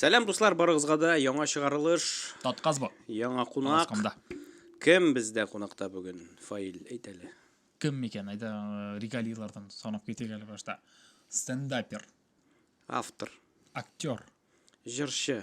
Сәлам дуслар, барыгызга да яңа чыгарылыш. Татказ бу. Яңа кунак. Кем бездә кунакта бүген? Фаил, әйт әле. Кем микән? Айда э, регалийлардан санап китик әле башта. Стендапер. Автор. Актер. Җырчы.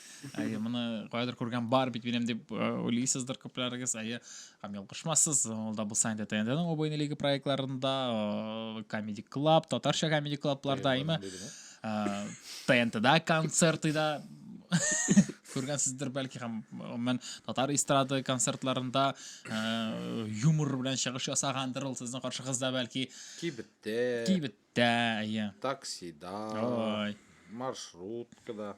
әйе моны кайдыр күргән бар бит минем дип э, уйлыйсыздыр күпләрегез әйе һәм ялгышмассыз ул да булса инде тнтның обойный лига проектларында э, комеди клаб татарча комеди клабларда әйме э, тнтда концерты да күргәнсездер бәлки һәм мен татар эстрады концертларында юмор белән чыгыш ясагандыр ул сезнең каршыгызда бәлки кибеттә кибеттә әйе таксида ой маршруткада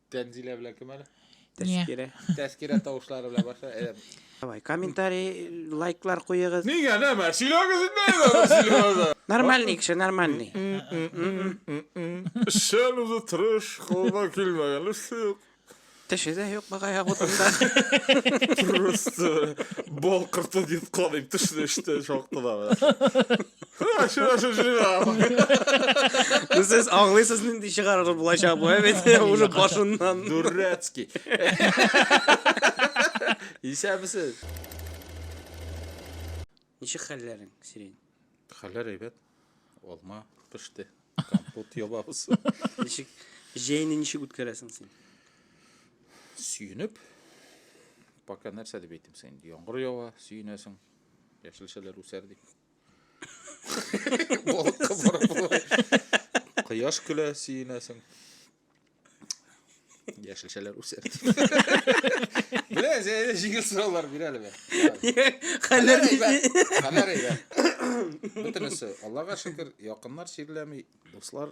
Тәнзилә белән кем әле? Тәскирә. Тәскирә тавышлары белән баша. Әйдә. Давай, комментарий, лайклар куегыз. Нигә нәмә? Сөйләгез инде әйдә, сөйләгез. Нормальный кеше, нормальный. Эшчән үзе тырыш, кулына килмәгән эш юк. Теше дә юк бага ягутында. Просто балкырты дип кадыйм тешне эштә шактыда. Сез аңлыйсыз нинди чыгарыр булачак бу, ә бит уже башыннан. Дурецкий. Исәбесез. Ничек хәлләрең, Сирень? Хәлләр әйбәт. Алма пеште. Компот ябабыз. Ничек җәйне ничек үткәрәсең син? Сөенеп. Пока нәрсә дип әйтим син? Яңгыр ява, сөенәсең. Яшелчәләр үсәр дип. Балыкка барып болай. Кояш көлә, сөенәсең. Яшелчәләр үсә. Белә, әзәйдә җиңел сораулар бир әле бе. Хәлләр Хәлләр әйбәт. Бөтенесе, Аллага шөкер, якыннар чирләми, дуслар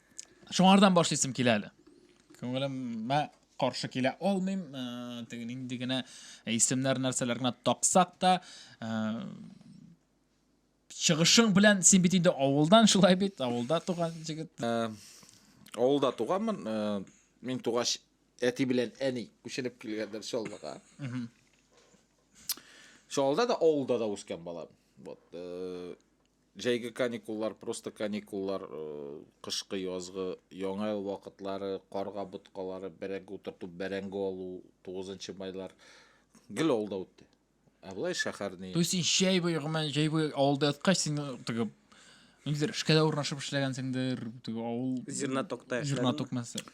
Шуңардан башлыйсым килә әле. Күңелемә каршы килә алмыйм. Э, теге нинди генә исемнәр нәрсәләр генә таксак та, э, чыгышың белән син бит инде авылдан шулай бит, авылда туган җегет. Э, авылда туганмын. Мин тугач әти белән әни күченеп килгәндер Чаллыга. Чаллыда да авылда да үскән балам. Вот. Җәйге каникуллар, просто каникуллар, э, кышкы, язгы, яңа ел вакытлары, карга боткалары, бәрәңге утырту, бәрәңге алу, 9 майлар гел авылда үтте. Ә болай шәһәр ни? То есть син җәй буе гомумән җәй буе авылда яткач син теге ниндидер эшкә дә урнашып эшләгәнсеңдер, теге авыл Зернотокта эшләдем. зерноток мәсәлән.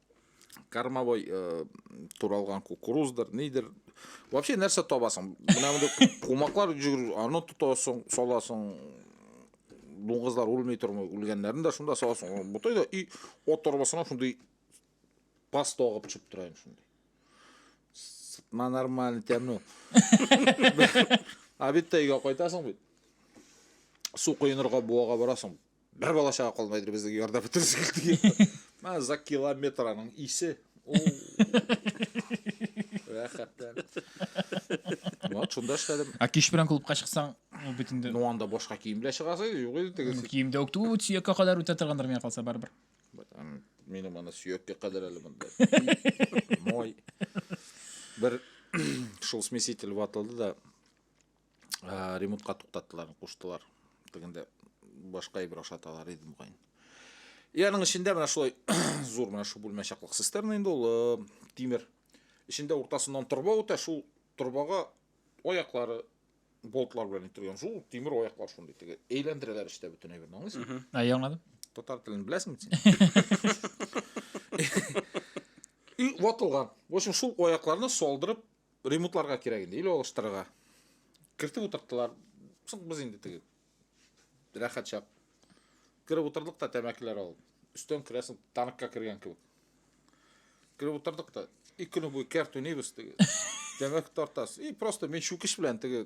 кормовой э, туралган кукуруздыр нидер вообще нәрсә табасың менә мондый кумаклар жүгерү аны тотасың саласың дуңгызлар үлми тормый үлгәннәрен дә шунда саласың ботай да и от торбасына шундый паста агып төшеп тора инде шундый сытма нормально тәмле обедта өйгә кайтасың бит су коенырга буага барасың Бер бала чага калмайдыр безнең ярда бетерсек дигән. Менә за километр аның исе. Рәхәттән. Вот шунда эшләдем. Ә кич белән клубка чыксаң, ну бит инде. Ну анда башка кием белән чыгасы юк иде теге. Киемдә үк түгел, сөяккә кадәр үтә торгандыр миңа калса барыбер. Минем аны сөяккә кадәр әле монда. Мой. Бер шул смеситель ватылды да ә, ремонтка туктаттылар, куштылар. Тегендә башка әйбер ашаталар иде мөгаен. И аның эчендә менә шулай зур менә шу бүлмә чаклык цистерна инде ул э, тимер. Эчендә уртасыннан торба үтә, шул торбага аяклары болтлар белән иттерген зур тимер аяклар шундый теге әйләндерәләр эчтә бөтен әйберне аңлыйсың ә я аңладым татар телен беләсеңме син и ватылган в общем шул аякларны солдырып Ремонтларга кирәк инде, или алыштырырга. Кертеп утырттылар. Соң без инде теге рәхәт чак. Кереп утырдык та тәмәкеләр алып. Өстән керәсең, танкка кергән кебек. Кереп утырдык та, ике көне буе кәртүнибез теге. Тәмәке тартасыз. И просто мин чүкеш белән теге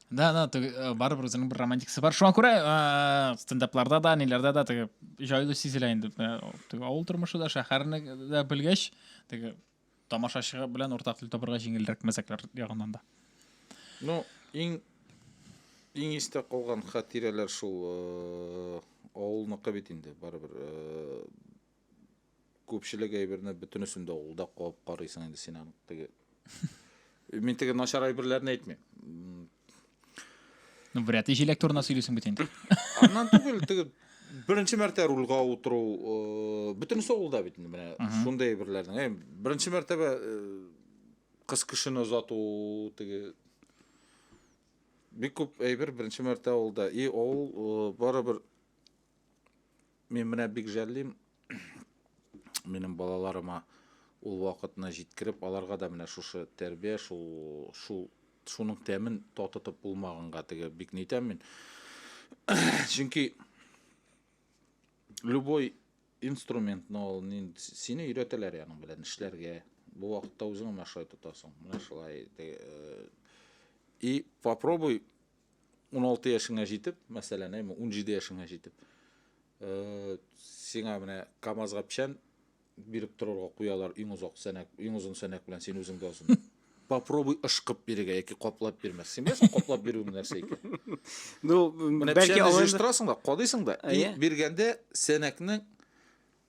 Да, да, теге э, барыбер үзенең бер романтикасы бар. Шуңа күрә э, стендапларда да, ниләрдә дә теге җайлы сизелә инде. Э, теге авыл тормышы да, шәһәрне дә белгәч, теге тамашачы белән уртак тел табарга җиңелрәк мәзәкләр ягыннан да. Ну, иң иң истә калган хатирәләр шул э, авылныкы бит инде, барыбер. Э, Күпчелек әйберне бөтенесен дә ул да куып карыйсың инде син аны теге. Мин теге начар әйберләрне әйтмим. Ну, вряд ли җиләк турында сөйлисең бит инде. Аннан түгел, теге беренче мәртә рульга утыру, э, бөтенесе ул да бит инде менә шундый әйберләрнең. Э, беренче мәртәбә э, кыз кешене озату теге бик күп әйбер беренче мәртә ул да. И ул э, барыбер Мин менә бик жәллим минем балаларыма ул вакытны җиткереп, аларга да менә шушы тәрбия, шул шул шуның тәмен татытып булмаганга теге бик нитәм мин. Чөнки любой инструментны ул сине өйрәтәләр яның белән эшләргә. Бу вакытта үзең менә шулай тотасың. Менә шулай. И попробуй 16 яшеңә җитеп, мәсәлән, әйме 17 яшеңә җитеп, э, сиңа менә КАМАЗга печән биреп торырга куялар иң озак сәнәк, иң озын сәнәк белән син үзең дә озын. Попробуй ышкып бирергә яки каплап бирмәс. Син беләсең каплап бирү нәрсә икән? Ну, менә бәлки алар җыштырасың да, кадыйсың да, и биргәндә сәнәкнең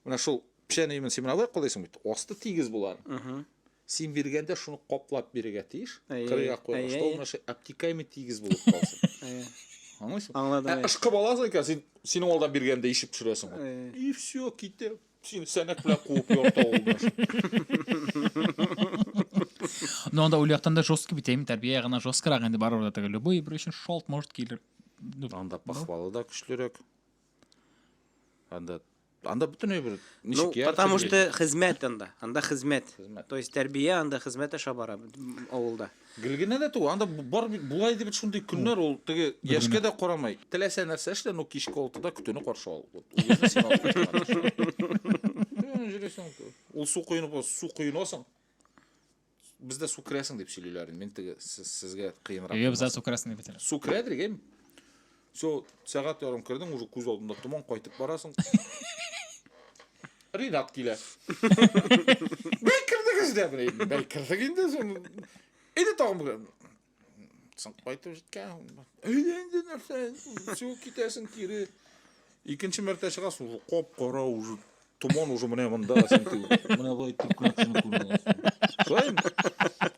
Менә шул печән өемен син менә алай кылыйсың бит. Асты тигез булган. Угу. Син биргәндә шуны каплап бирергә тиеш. Кырыйга куярга, что ул мәше обтекаемый тигез булып калсын. Аңлыйсың? Аңладым. Ә ышкып аласың икән, син синең алдан биргәндә ишеп төшерәсең. И все, китә. Син сәнәк белән куып ярта ул мәш. Но анда ул яктан да жестко бит, әйме, тәрбия ягына жесткорак инде барыбер да теге любой бер өчен шалт может килер. Анда похвалы да көчлерәк. Анда Анда бөтенләй бер ничек ну, яр потому что хезмәт анда. Анда хезмәт. хезмәт. То есть тәрбия анда хезмәт аша бара авылда. Гел генә дә түгел, анда бар бит булай дип шундый көннәр ул теге яшькә дә карамый. Теләсә нәрсә эшлә, ну кичке 6-да көтүне каршы ал. Ул су коенып, су коенасың. Бездә су керәсең дип сөйлиләр. Мин теге сезгә кыенрак. Әйе, бездә су керәсең дип әйтәләр. Су керә дигән. Все, сәгать ярым кердең, уже күз алдында томан кайтып барасың. Ринат килә. Бәй кердегез дә, бәй кердек инде. Иде тагын Соң кайтып җиткән. Өйләнде нәрсә? Су китәсен кире. Икенче мәртә чыга су коп кара уже. Томан уже менә монда син тү. Менә бу итеп күрә шуны күрә. Шулай.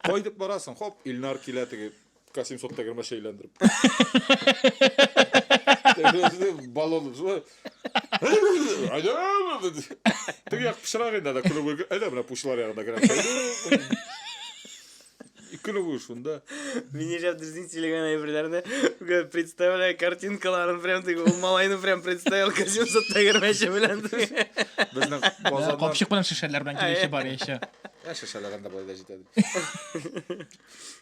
Кайтып барасың, хоп, Илнар килә теге Касим сот тәгәрмә шәйләндереп. Баллон шулай. Теге як пычрак инде да күләгә. Әйдә менә пучлар ягына керә. Көлү бу шунда. Мин яшәп дөресен сөйләгән әйберләрне представляю картинкаларын прям теге ул малайны прям представил костюмсыз тәгәрмәче белән. Безнең базарда Капчык белән шешәләр белән килүче бар яшә. Ә шешәләр анда болай да җитә.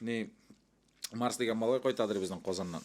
Ни Марс дигән малай кайтадыр безнең Казаннан.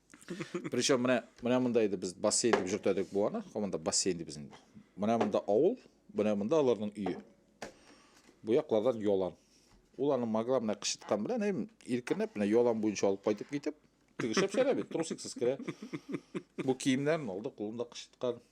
причем менә менә монда иде без бассейн дип йөртәдек буаны монда бассейн ди безнең менә монда авыл менә монда аларның өе бу яклардан ялан ул аны маграмная кычыткан белән һәм иркенләп менә ялан буенча алып кайтып китеп тегешеп чәлә бит трусиксыз керә бу киемнәрен алды кулында кычыткан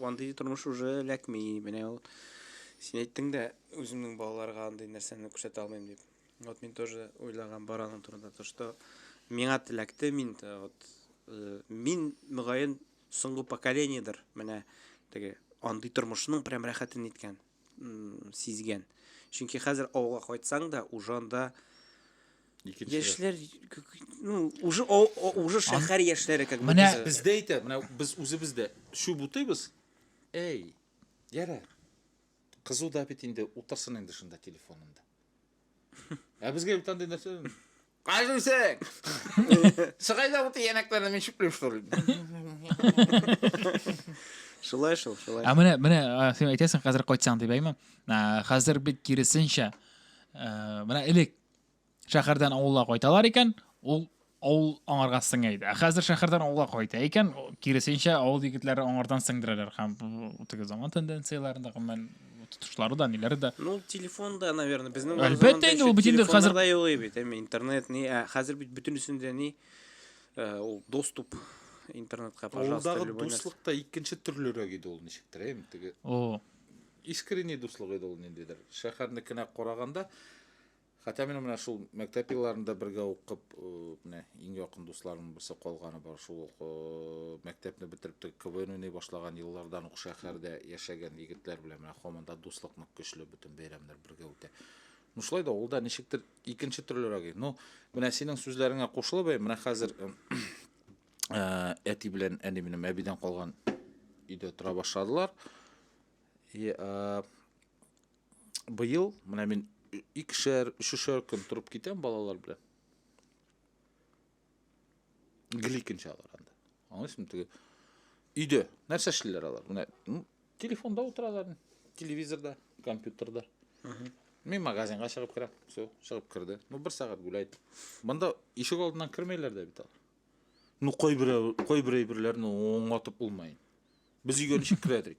Андый тормыш уже эләкми. Менә ул син әйттең дә, үземнең балаларга андый нәрсәне күрсәтә алмыйм дип. Вот мин тоже уйлаган бар аның турында, то что миңа теләкте мин вот э, мин мөгаен соңгы поколениедер менә теге андый тормышның прям рәхәтен иткән. сизгән. Чөнки хәзер авылга кайтсаң да, уже анда Икенче. Яшьләр ну уже уже шәһәр яшьләре как Менә бездә әйтә, менә без үзебез дә чүп утыйбыз. Әй, ярә. Кызу да бит инде, утырсын инде шунда телефонында. Ә безгә бит андый нәрсә Каждый сек! Шыгай да вот янәкләрне мин чүплеп штурым. Шулай шул, шулай. Ә менә менә син әйтәсең хәзер кайтсаң дип әйме? Хәзер бит киресенчә. Менә элек шәһәрдән авылга кайталар икән, ул авыл аңарга сеңә иде. Ә хәзер шәһәрдән авылга кайта икән, киресенчә авыл егетләре аңардан сеңдерәләр һәм теге заман тенденцияләрендә гомумән тотышлары да, ниләре дә. Ну, телефон да, наверное, безнең Әлбәттә инде ул бит инде хәзер да юк бит, әмма интернет ни, ә хәзер бит бөтенесендә ни э, ул доступ интернетка, пожалуйста, любой. Авылдагы дуслык та икенче төрлерәк иде ул ничектер, әйм теге. О. Искренне дуслык иде ул ниндидер. Шәһәрнекенә караганда Хәтта мин менә шул мәктәп елларында бергә укып, менә иң якын дусларым берсе калганы бар. Шул ук мәктәпне бетереп тә КВН уйный башлаган еллардан ук шәһәрдә яшәгән егетләр белән менә һаман да дуслык нык көчле, бөтен бәйрәмнәр бергә үтә. Ну шулай да ул да ничектер икенче төрлерәк. Ну, менә синең сүзләреңә кушылып, менә хәзер әти белән әни минем әбидән калган өйдә тора башладылар. И, быел менә мин икешәр, өчешәр көн торып китәм балалар белән. Гликин чалар анда. Аңлыйсың теге? Өйдә нәрсә эшлиләр алар? Менә телефонда утыралар, телевизорда, компьютерда. Мин магазинга чыгып керәм. Все, чыгып керде. Ну, бер сәгать гуляйт. Монда ишек алдыннан кермәйләр дә бит алар. Ну, кайбер кайбер әйберләрне оңлатып булмай. Без өйгә ничек керәдек?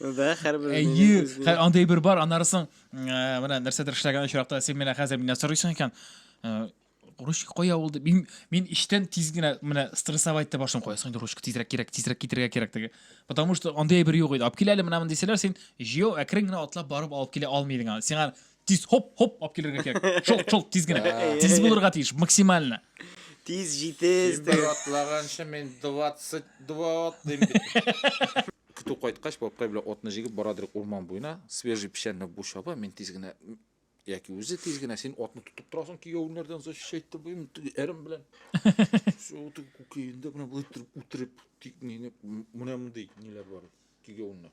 Да, хәрбер. Әйе, андый бер бар, аннары соң э, менә нәрсәдер эшләгән очракта син менә хәзер миннән сорыйсың икән. Э, ручка кая ул дип. Мин мин иштән тиз генә менә стрессовать дип башым куясың инде ручка тизрәк кирәк, тизрәк китергә кирәк диге. Потому что андый бер юк иде. Алып киләле менә мондый сәләр син җыю әкрен генә атлап барып алып килә алмыйдың. Сиңа тиз хоп хоп алып килергә кирәк шолт шолт тиз генә тиз булырга тиеш максимально тиз җитез бер атлаганчы мин двадцать два атлыйм көтү кайткач бабкай белән атны җигеп бара дирек урман буена свежий печәнне бу чаба мин тиз генә яки үзе тиз генә син атны тотып торасың кияүнәрдән защищать итеп теге әрем белән шул теге күкәенде менә болай иттереп үтереп менә мондый ниләр бар кигәвеннәр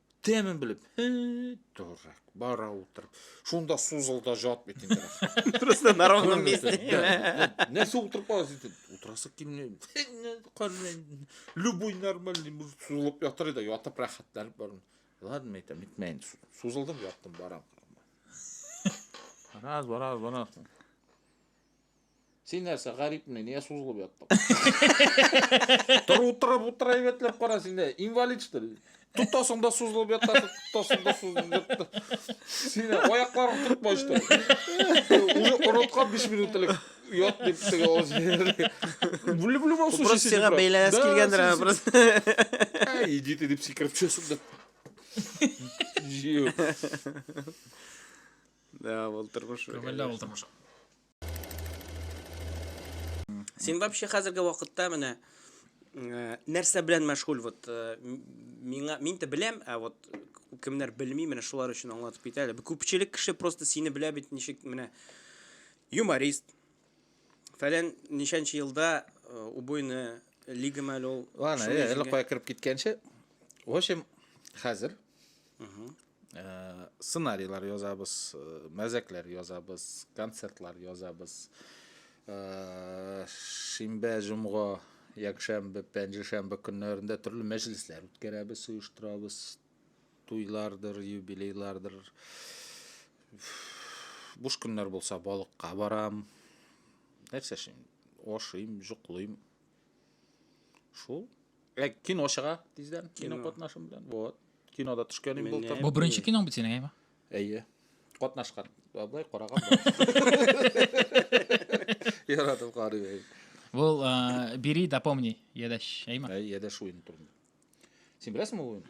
Тәмен белеп, торак, бара утырып. Шунда сузылда жат бит инде. Просто на ровном месте. Нәрсә утырып каласыз итеп? Утырасы килми. Любой нормальный мужик сузылып ятыр иде, ятып рәхәтләнеп барам. Ладно, әйтәм, битмәен. Сузылдым, яттым, барам. Раз, раз, раз. Син нәрсә, гарипме, нигә сузылып яттың? Тор утырып утыра әйбәтләп кара син дә, инвалид что ли? Тотасың да сузылып ятасың, тотасың да сузылып ятасың. Син аякларың тотмай что ли? Уже оныткан 5 минут элек ят дип теге ул җирдә. В любом случае Просто сиңа бәйләнәс килгәндер аңа просто. Әй, иди ты дип сикереп төшәсең дә. Җыю. Да, ул тормыш. Күңелле ул тормыш. Син вообще хәзерге вакытта менә э, нәрсә белән мәшгуль вот э, миңа мин дә беләм, ә вот кемнәр белми, менә шулар өчен аңлатып кит әле. Күпчелек кеше просто сине белә бит ничек менә юморист. Фәлән ничәнче елда э, убойны лига мәле ул. Ладно, әле кая кереп киткәнче. В общем, хәзер сценарийлар язабыз мәзәкләр язабыз концертлар язабыз шимбә җомга якшәмбе пәнҗешәмбе көннәрендә төрле мәҗлесләр үткәрәбез оештырабыз туйлардыр юбилейлардыр буш көннәр булса балыкка барам нәрсә эшлим ашыйм җоклыйм Шул. Ә кино чыга тиздән, кино Кино. катнашым белән. Вот. Кинода төшкәнем Менә. булды. Бу беренче киноң бит синең, әйме? Әйе. Катнашкан. Абай караган. Яратып карый. Бу э, бери да помни, ядәш, әйме? Әйе, дә шуен турында. Син беләсең ул уен?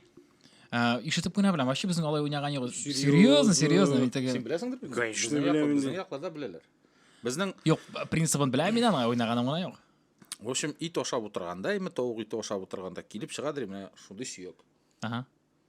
Ә, ишетеп кенә беләм. Вообще безнең алай уйнаган юк. Серьезно, серьезно. Мин теге... Син беләсеңдер бит? Конечно, Безнең яклар- беләм Безнең инде. якларда беләләр. Безнең, Юк, принцибын беләм мин аны, уйнаганым гына юк. в общем, ит ашап утырганда, эме тавык ите ашап утырганда килеп чыгадыр менә шундый сөяк. Ага.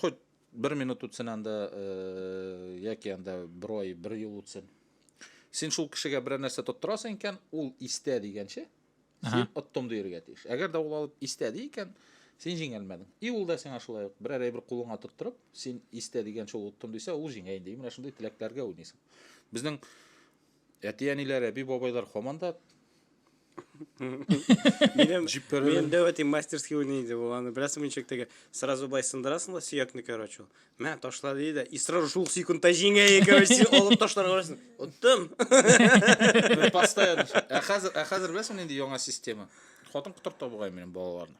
Хоть бер минут үтсен анда, э, яки анда бер ай, бер ел үтсен. Син шул кешегә берәр нәрсә тоттырасың икән, ул истә дигәнче, син оттым диергә тиеш. Әгәр дә ул алып истә ди икән, син җиңелмәдең. И ул да сиңа шулай ук берәр әйбер кулыңа тоттырып, син истә дигәнче ул оттым дисә, ул җиңә инде. И менә шундый теләкләргә уйныйсың. Безнең Әти-әниләр, әби-бабайлар хаман да Минем минем дәвәти мастерский уйный иде ул. Аны беләсең мин чектәге. Сразу бай сындырасың да сөякне, короче. Мә ташла ди дә, и сразу шул секундта җиңә, короче, алып ташларга барасың. Оттым. Постоянно. Ә хәзер, ә хәзер беләсең нинди яңа система? Хатын котырта бугай минем балаларны.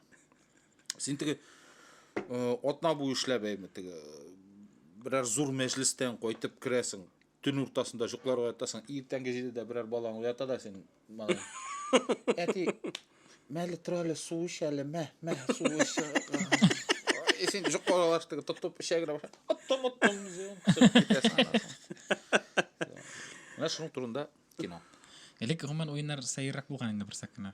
Син теге э, атна буе эшләп әйме, теге э, берәр зур мәҗлестән кайтып керәсең. Төн уртасында җоклар уятасың, иртәнге җидедә берәр балаң уята да син, малай. Әти, мәле тор әле, су эч әле, мә, мә, су эч. Ай, Син җоклар алаштыгы тотып эчә генә баша. Оттым, оттым, дисең, кысып китәсең анасың. Менә шуның турында кино. Элек гомумән уеннар сәеррәк булган инде берсәк кенә.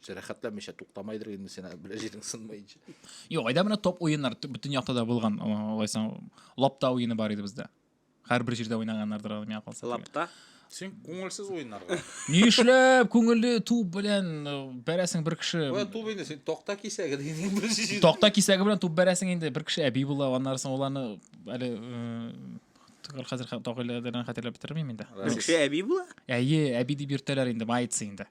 Җәрәхәтләмичә туктамайдыр инде сине белә җирең сынмаенча. Юк, айда менә топ уеннар бөтен якта да булган. Алайса лапта уены бар иде бездә. Һәрбер җирдә уйнаганнардыр аны миңа калса. Лапта? Син күңелсез уеннарга. Ни эшләп күңелле туп белән э, бәрәсең бер кеше. Ой, туп инде син токта кисәге дигән бер җир. Токта кисәге белән туп бәрәсең инде бер кеше әби була, аннары соң уланы әле э, хәзер тагыйләдән хәтерләп бетермим инде. Бер кеше әби була? Әйе, әби дип йөртәләр инде, маятсы инде.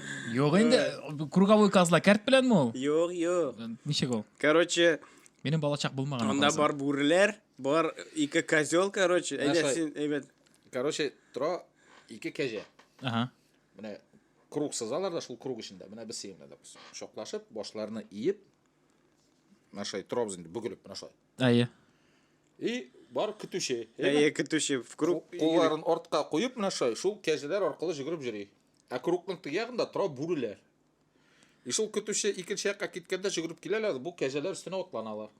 Юк инде, э, круговой козла кәрт беләнме ул? Юк, юк. Э, ничек ул? Короче, Минем балачак булмаган. Анда бар бүреләр, бар ике козел, короче. Әйдә син, әйбәт. Короче, тора ике кәҗә. Ага. Менә круг сызалар да шул круг эчендә. Менә без сиңа да шоклашып, башларны иеп, менә шулай торабыз инде бөгелеп, менә шулай. Әйе. И бар көтүче. Әйе, көтүче в круг. Кулларын артка куеп, менә шулай, шул кәҗәләр аркылы жүгереп йөри. Ә кругның теге ягында тора бүреләр. И шул көтүче икенче якка киткәндә жүгереп киләләр, бу кәҗәләр өстенә атланалар.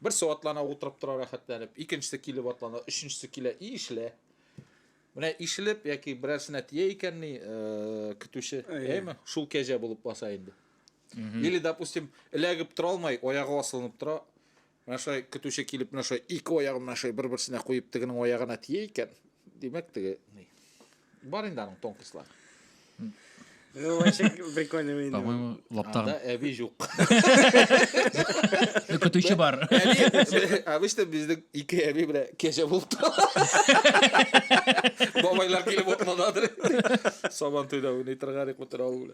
Берсе атлана утырып тора рәхәтләнеп, икенчесе килеп атлана, өченчесе килә, и ишелә. Менә ишелеп яки берәрсенә тия икән ни, э, көтүче, әйме, шул кәҗә булып баса инде. Или, допустим, эләгеп тора алмай, аягы асылынып тора, Менә шулай көтүче килеп, менә шулай ике аягын менә шулай бер-берсенә куеп, тегенең аягына тия икән. Димәк, теге ни. Бар инде аның тонкислар. Ну, вообще прикольно видно. По-моему, лаптагын. Анда әби юк. Көтүче бар. Әби, обычно безнең ике әби белән кәҗә булып тора. Бабайлар килеп утмададыр. Сабан туйда уйный торган ик бу тора ул.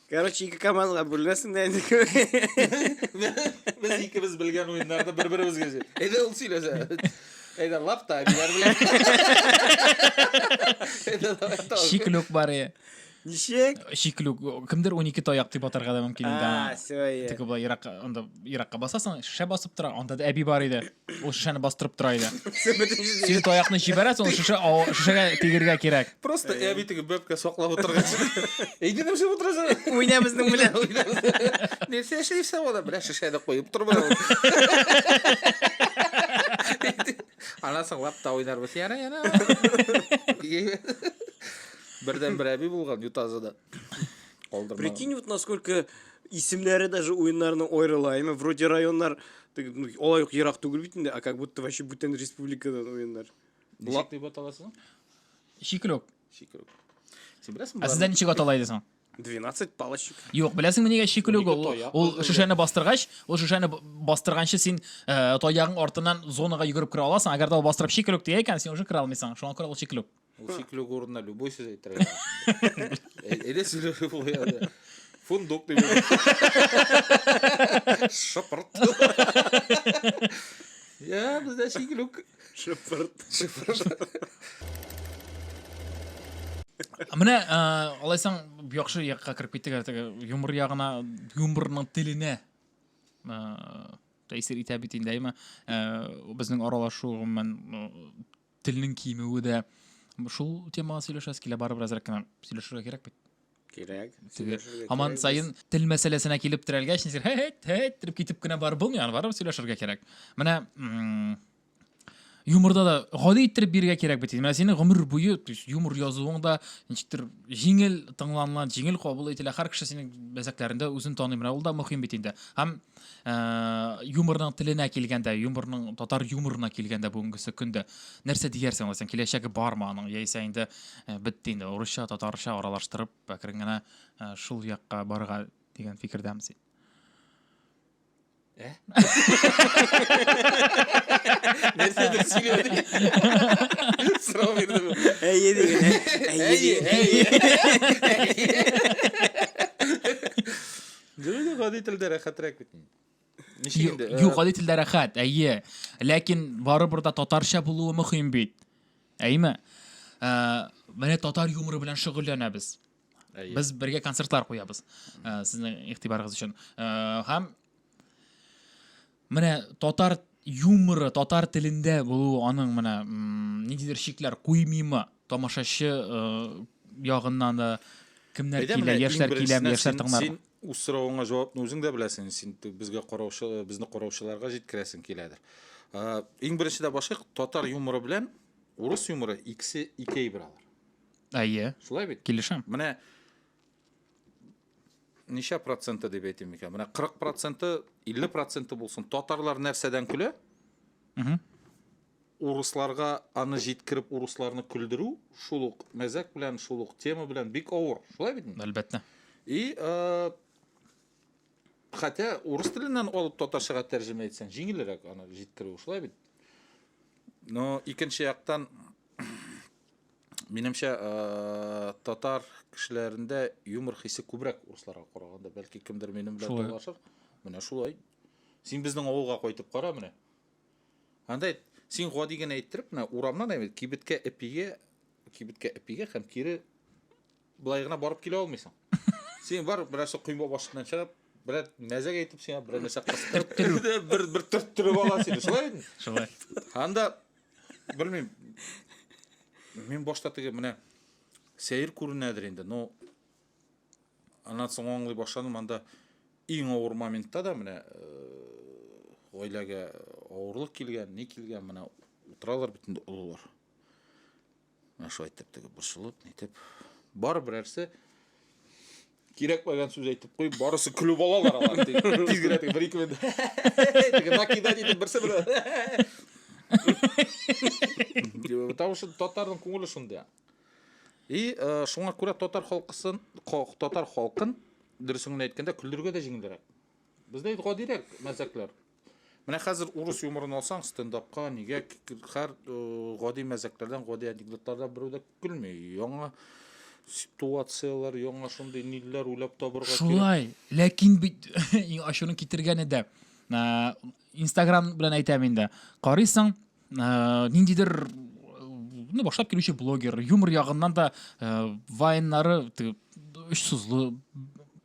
Короче, ике КАМАЗга бүленәсең дә инде. Без икебез белгән уеннарны бер-беребезгә сөйлә. Әйдә ул сөйләсә. Әйдә лап та биләр белән. Әйдә давай та. Чиклүк бар е. Ничек? Чиклүк. Кемдер 12 таяк дип атарга да мөмкин инде. А, все. Тик бу ерак, анда еракка басасың, шешә басып тора, анда да әби бар иде. Ул шешәне бастырып тора иде. Син таякны җибәрәсең, ул шешә шешәгә тигергә кирәк. Просто ә бит теге бәбкә саклап утырган. Әйдә нәрсә утырасың? Уйна безнең белән. Нәрсә эшлисә ул? Бля, шешәне куеп тор бу. Ана соңлап та уйнарбыз. Яна, яна. Бердән бер әби булган Ютазыда. Калдырма. Прикинь, вот насколько исемнәре даже уеннарның аерыла. Әмма вроде районнар ну, алай ук ерак түгел бит инде, а как будто вообще бүтән республикадан уеннар. Ничек дип аталасың? Шикрок. Шикрок. Син беләсеңме? Ә сездә ничек атала иде соң? 12 палочек. Юк, беләсеңме нигә шикелүк ул? Ул шешәне бастыргач, ул шешәне бастырганчы син э, таягың артыннан зонага йөгереп керә аласың. Әгәр дә ул бастырып шикелүк дия икән, син уже керә алмыйсың. Шуңа күрә ул шикелүк. Ул шикле урынына любой сүз әйтергә. Эле сөйләшеп куяды. Фундук дип. Шыпырт. Я, бездә шиклүк. Шыпырт. Шыпырт. Менә алайсаң яхшы якка кереп киттек әле теге юмор ягына, юморның теленә тәэсир итә бит инде, әйме? Безнең аралашу гомумән Телнең кимүе дә шул темага сөйләшәс килә, барыбер әзрәк кенә сөйләшергә кирәк бит. Кирәк. Һаман сайын тел мәсьәләсенә килеп терәлгәч, нисер һәт һәт итеп китеп кенә барып булмый, аны барып сөйләшергә кирәк. Менә юморда да гади иттереп бирергә кирәк бит. Менә синең гомер буе юмор язуың да ничектер җиңел тыңланыла, җиңел кабул ителә. Һәр кеше синең мәзәкләрендә үзен таный. Менә ул да мөһим бит инде. Һәм ә, юморның теленә килгәндә юморның татар юморына килгәндә бүгенгесе көндә нәрсә диярсең аңласаң киләчәге бармы аның яисә инде ә, бетте инде урысча татарча аралаштырып әкрен генә ә, шул якка барырга дигән фикердәме син ә? нәрседер сөйләде сорау бирдем әйе дигән әйе әйе Гүле гади телдә рәхәтрәк бит. Ничек инде? Э, юк, гади телдә рәхәт, әйе. Ләкин барыбер дә татарча булуы мөһим бит. Әйме? Э, менә татар юморы белән шөгыльләнәбез. Без бергә концертлар куябыз. Э, сезнең игътибарыгыз өчен. Һәм Менә татар юморы татар телендә булуы аның менә ниндидер чикләр куймыймы тамашачы э, ягыннан да кемнәр Әйдә, килә, яшьләр киләме, яшьләр тыңлар. Син үз соравыңа җавапны үзең дә беләсең, син безгә караучы, безне караучыларга җиткерәсең киләдер. Ә, иң беренче дә башлык татар юморы белән урыс юморы икесе икәй биралар. Әйе. Шулай бит? Килешәм. Менә ничә проценты дип әйтим икән? Менә 40 проценты, 50 проценты булсын. Татарлар нәрсәдән көлә? Урысларга аны җиткереп, урысларны көлдерү шул ук мәзәк белән, шул ук тема белән бик авыр. Шулай бит? Әлбәттә. И, э, хәтә урыс теленнән алып татарчага тәрҗемә итсәң, җиңелрәк аны җиткерү, шулай бит? Но икенче яктан Минемчә, э, татар кешеләрендә юмор хисе күбрәк урысларга караганда. Бәлки кемдер минем белән Шулай. талашыр. Менә шулай. Син безнең авылга кайтып кара менә. Анда әйт, син гади генә әйттереп, менә урамнан әйбит, кибеткә эпигә, кибеткә эпигә һәм кире Былай гына барып килә алмыйсың. Син бар, берәрсе койма башыннан чыгып, берәр мәзәк әйтеп сиңа, берәр нәрсә кыстырып, бер бер төрттереп ала сине. Шулай бит? Шулай. Анда белмим. Мин башта теге менә сәер күренәдер инде, но аннан соң аңлый башладым, анда иң авыр моментта да менә гаиләгә э, авырлык килгән, ни килгән, менә утыралар бит инде олылар. Менә шулай итеп теге борчылып, нитеп. Бар берәрсе кирәкмәгән сүз әйтеп куй, барысы көлеп алалар алар. Тиз генә теге бер ике минут. Теге накидать итеп берсе бер. Потому что татарның күңеле шундый. И э, шуңа күрә татар халкысын, татар халкын дөресен генә әйткәндә көлдерергә дә җиңелрәк. Бездә гадирәк мәзәкләр. Менә хәзер урыс юморын алсаң, стендапка нигә һәр э, гади мәзәкләрдән, гади анекдотлардан берәү дә көлми. Яңа ситуацияләр, яңа шундый нилләр уйлап табырга кирәк. Шулай, ләкин бит ачуны китергәне дә. Инстаграм белән әйтәм инде. Карыйсың, ә, ниндидер ну, башлап килүче блогер юмор ягыннан да ә, вайннары өч сузлы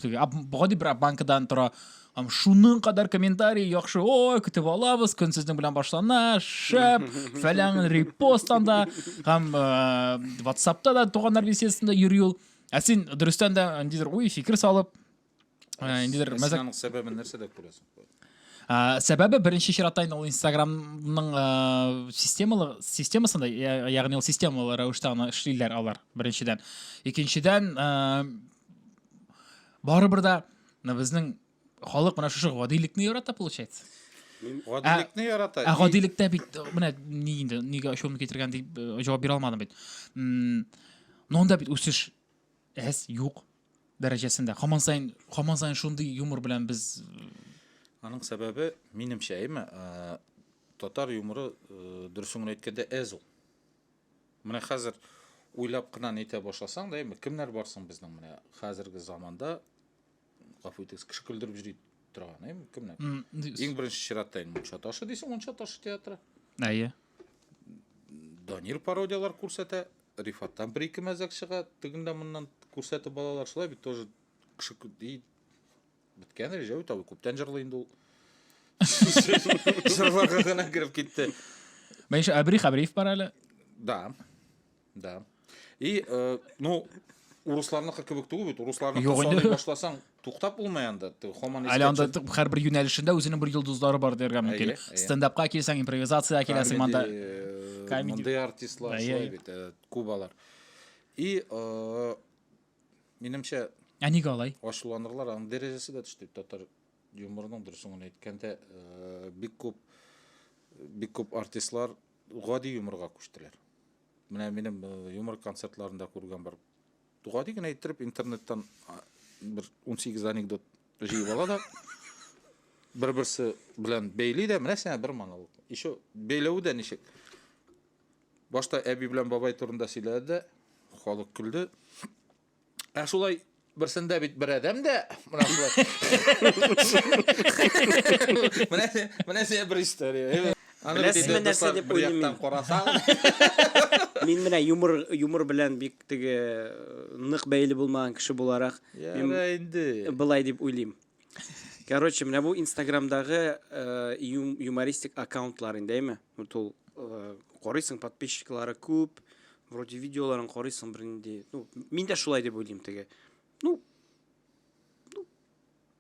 гади бер банкадан тора Ам шуның кадәр комментарий яхшы, ой, көтеп алабыз, көн сезнең белән башлана, шәп, фәлән репост анда, һәм э, WhatsAppта да туганнар беседасында йөри ул. Ә син дөрестән дә ниндидер уй, фикер салып, Ә, инде дер- мәзәк- Синаның сәбәбен нәрсә дип күрәсең? Ә, Сәбәбе беренче чиратта инде ул Инстаграмның ә, системалы системасында, я- ягъни ул системалы рәвештә аны эшлиләр алар беренчедән. Икенчедән, ә, барыбер дә менә безнең халык менә шушы гадилекне ярата получается. Мин гадилекне ярата. Ә гадилектә бит менә ни инде нигә ачуымны китергән дип э, җавап бирә алмадым бит. М, Ну анда бит үсеш әз, юк. дәрәҗәсендә һаман саен һаман саен шундый юмор белән без аның сәбәбе минемчә әйме татар юморы дөресен генә әйткәндә әз ул менә хәзер уйлап кына әйтә башласаң да әйме кемнәр барсың безнең менә хәзерге заманда гафу итегез кеше көлдереп йөри торган әйме кемнәр иң беренче чиратта инде мунча ташы дисең мунча ташы театры әйе данир пародиялар күрсәтә Рифаттан бер-ике мәзәк чыга, тегендә-моннан күрсәтеп балалар шулай бит тоже кеше ди. Беткән Рәҗәү табы күптән җырлый инде ул. Җырларга гына кереп китте. Менә ишә Абрих Абриев бар әле. Да. Да. И, э, ну, урысларныкы кебек түгел бит, урысларны Юк инде. саный башласаң, Туктап булмый анда, ты һаман Әле анда искәчә. һәрбер юнәлешендә үзенең бер йолдызлары бар дияргә мөмкин. Әйе, әйе. Стендапка килсәң, импровизациягә киләсең анда. Комеди, э, Комеди. Мондый артистлар Әйе, шулай әйе. бит, э, күп алар. И, э, минемчә, Ә нигә алай? ачуланырлар, аның дәрәҗәсе дә төште. Татар юморының дөресен генә әйткәндә, э, бик күп бик күп артистлар гади юморга күчтеләр. Менә минем э, юмор концертларында күргән бер Гади генә иттереп интернеттан бер 18 анекдот җыеп ала да бер-берсе белән бәйли дә, менә сиңа бер монолог. Еще бәйләве дә ничек? Башта әби белән бабай турында сөйләде дә, халык көлде. Ә шулай берсендә бит бер адәм дә, менә шулай. Менә менә сиңа бер история. Аны Беләсезме нәрсә дип уйлыйм мин. Карасаң. Мин менә юмор юмор белән бик Теге нык бәйле булмаган кеше буларак мин инде былай дип уйлыйм. Короче, менә бу Инстаграмдагы юмористик аккаунтлар инде, әйме? Вот ул карыйсың, подписчиклары күп, вроде видеоларын карыйсың бер инде. Ну, мин дә шулай дип уйлыйм теге. Ну,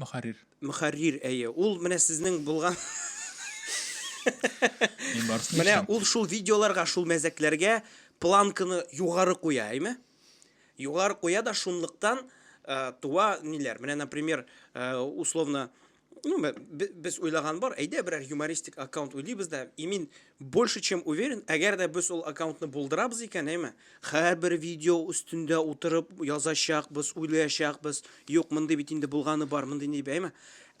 Мөхәррир. Мөхәррир, әйе. Ул менә сезнең булган Мин барсын Менә ул шул видеоларга, шул мәзәкләргә планканы югары куя, әйме? Югары куя да шунлыктан э, туа ниләр. Менә, например, э, условно, ну, без уйлаган бар, әйдә берәр юмористик аккаунт уйлыйбыз да, имин Больше чем уверен, әгәр дә без ул аккаунтны булдырабыз икән, әйме, һәрбер видео өстендә утырып язачакбыз, уйлаячакбыз, юк, мондый бит инде булганы бар, мондый дип, әйме.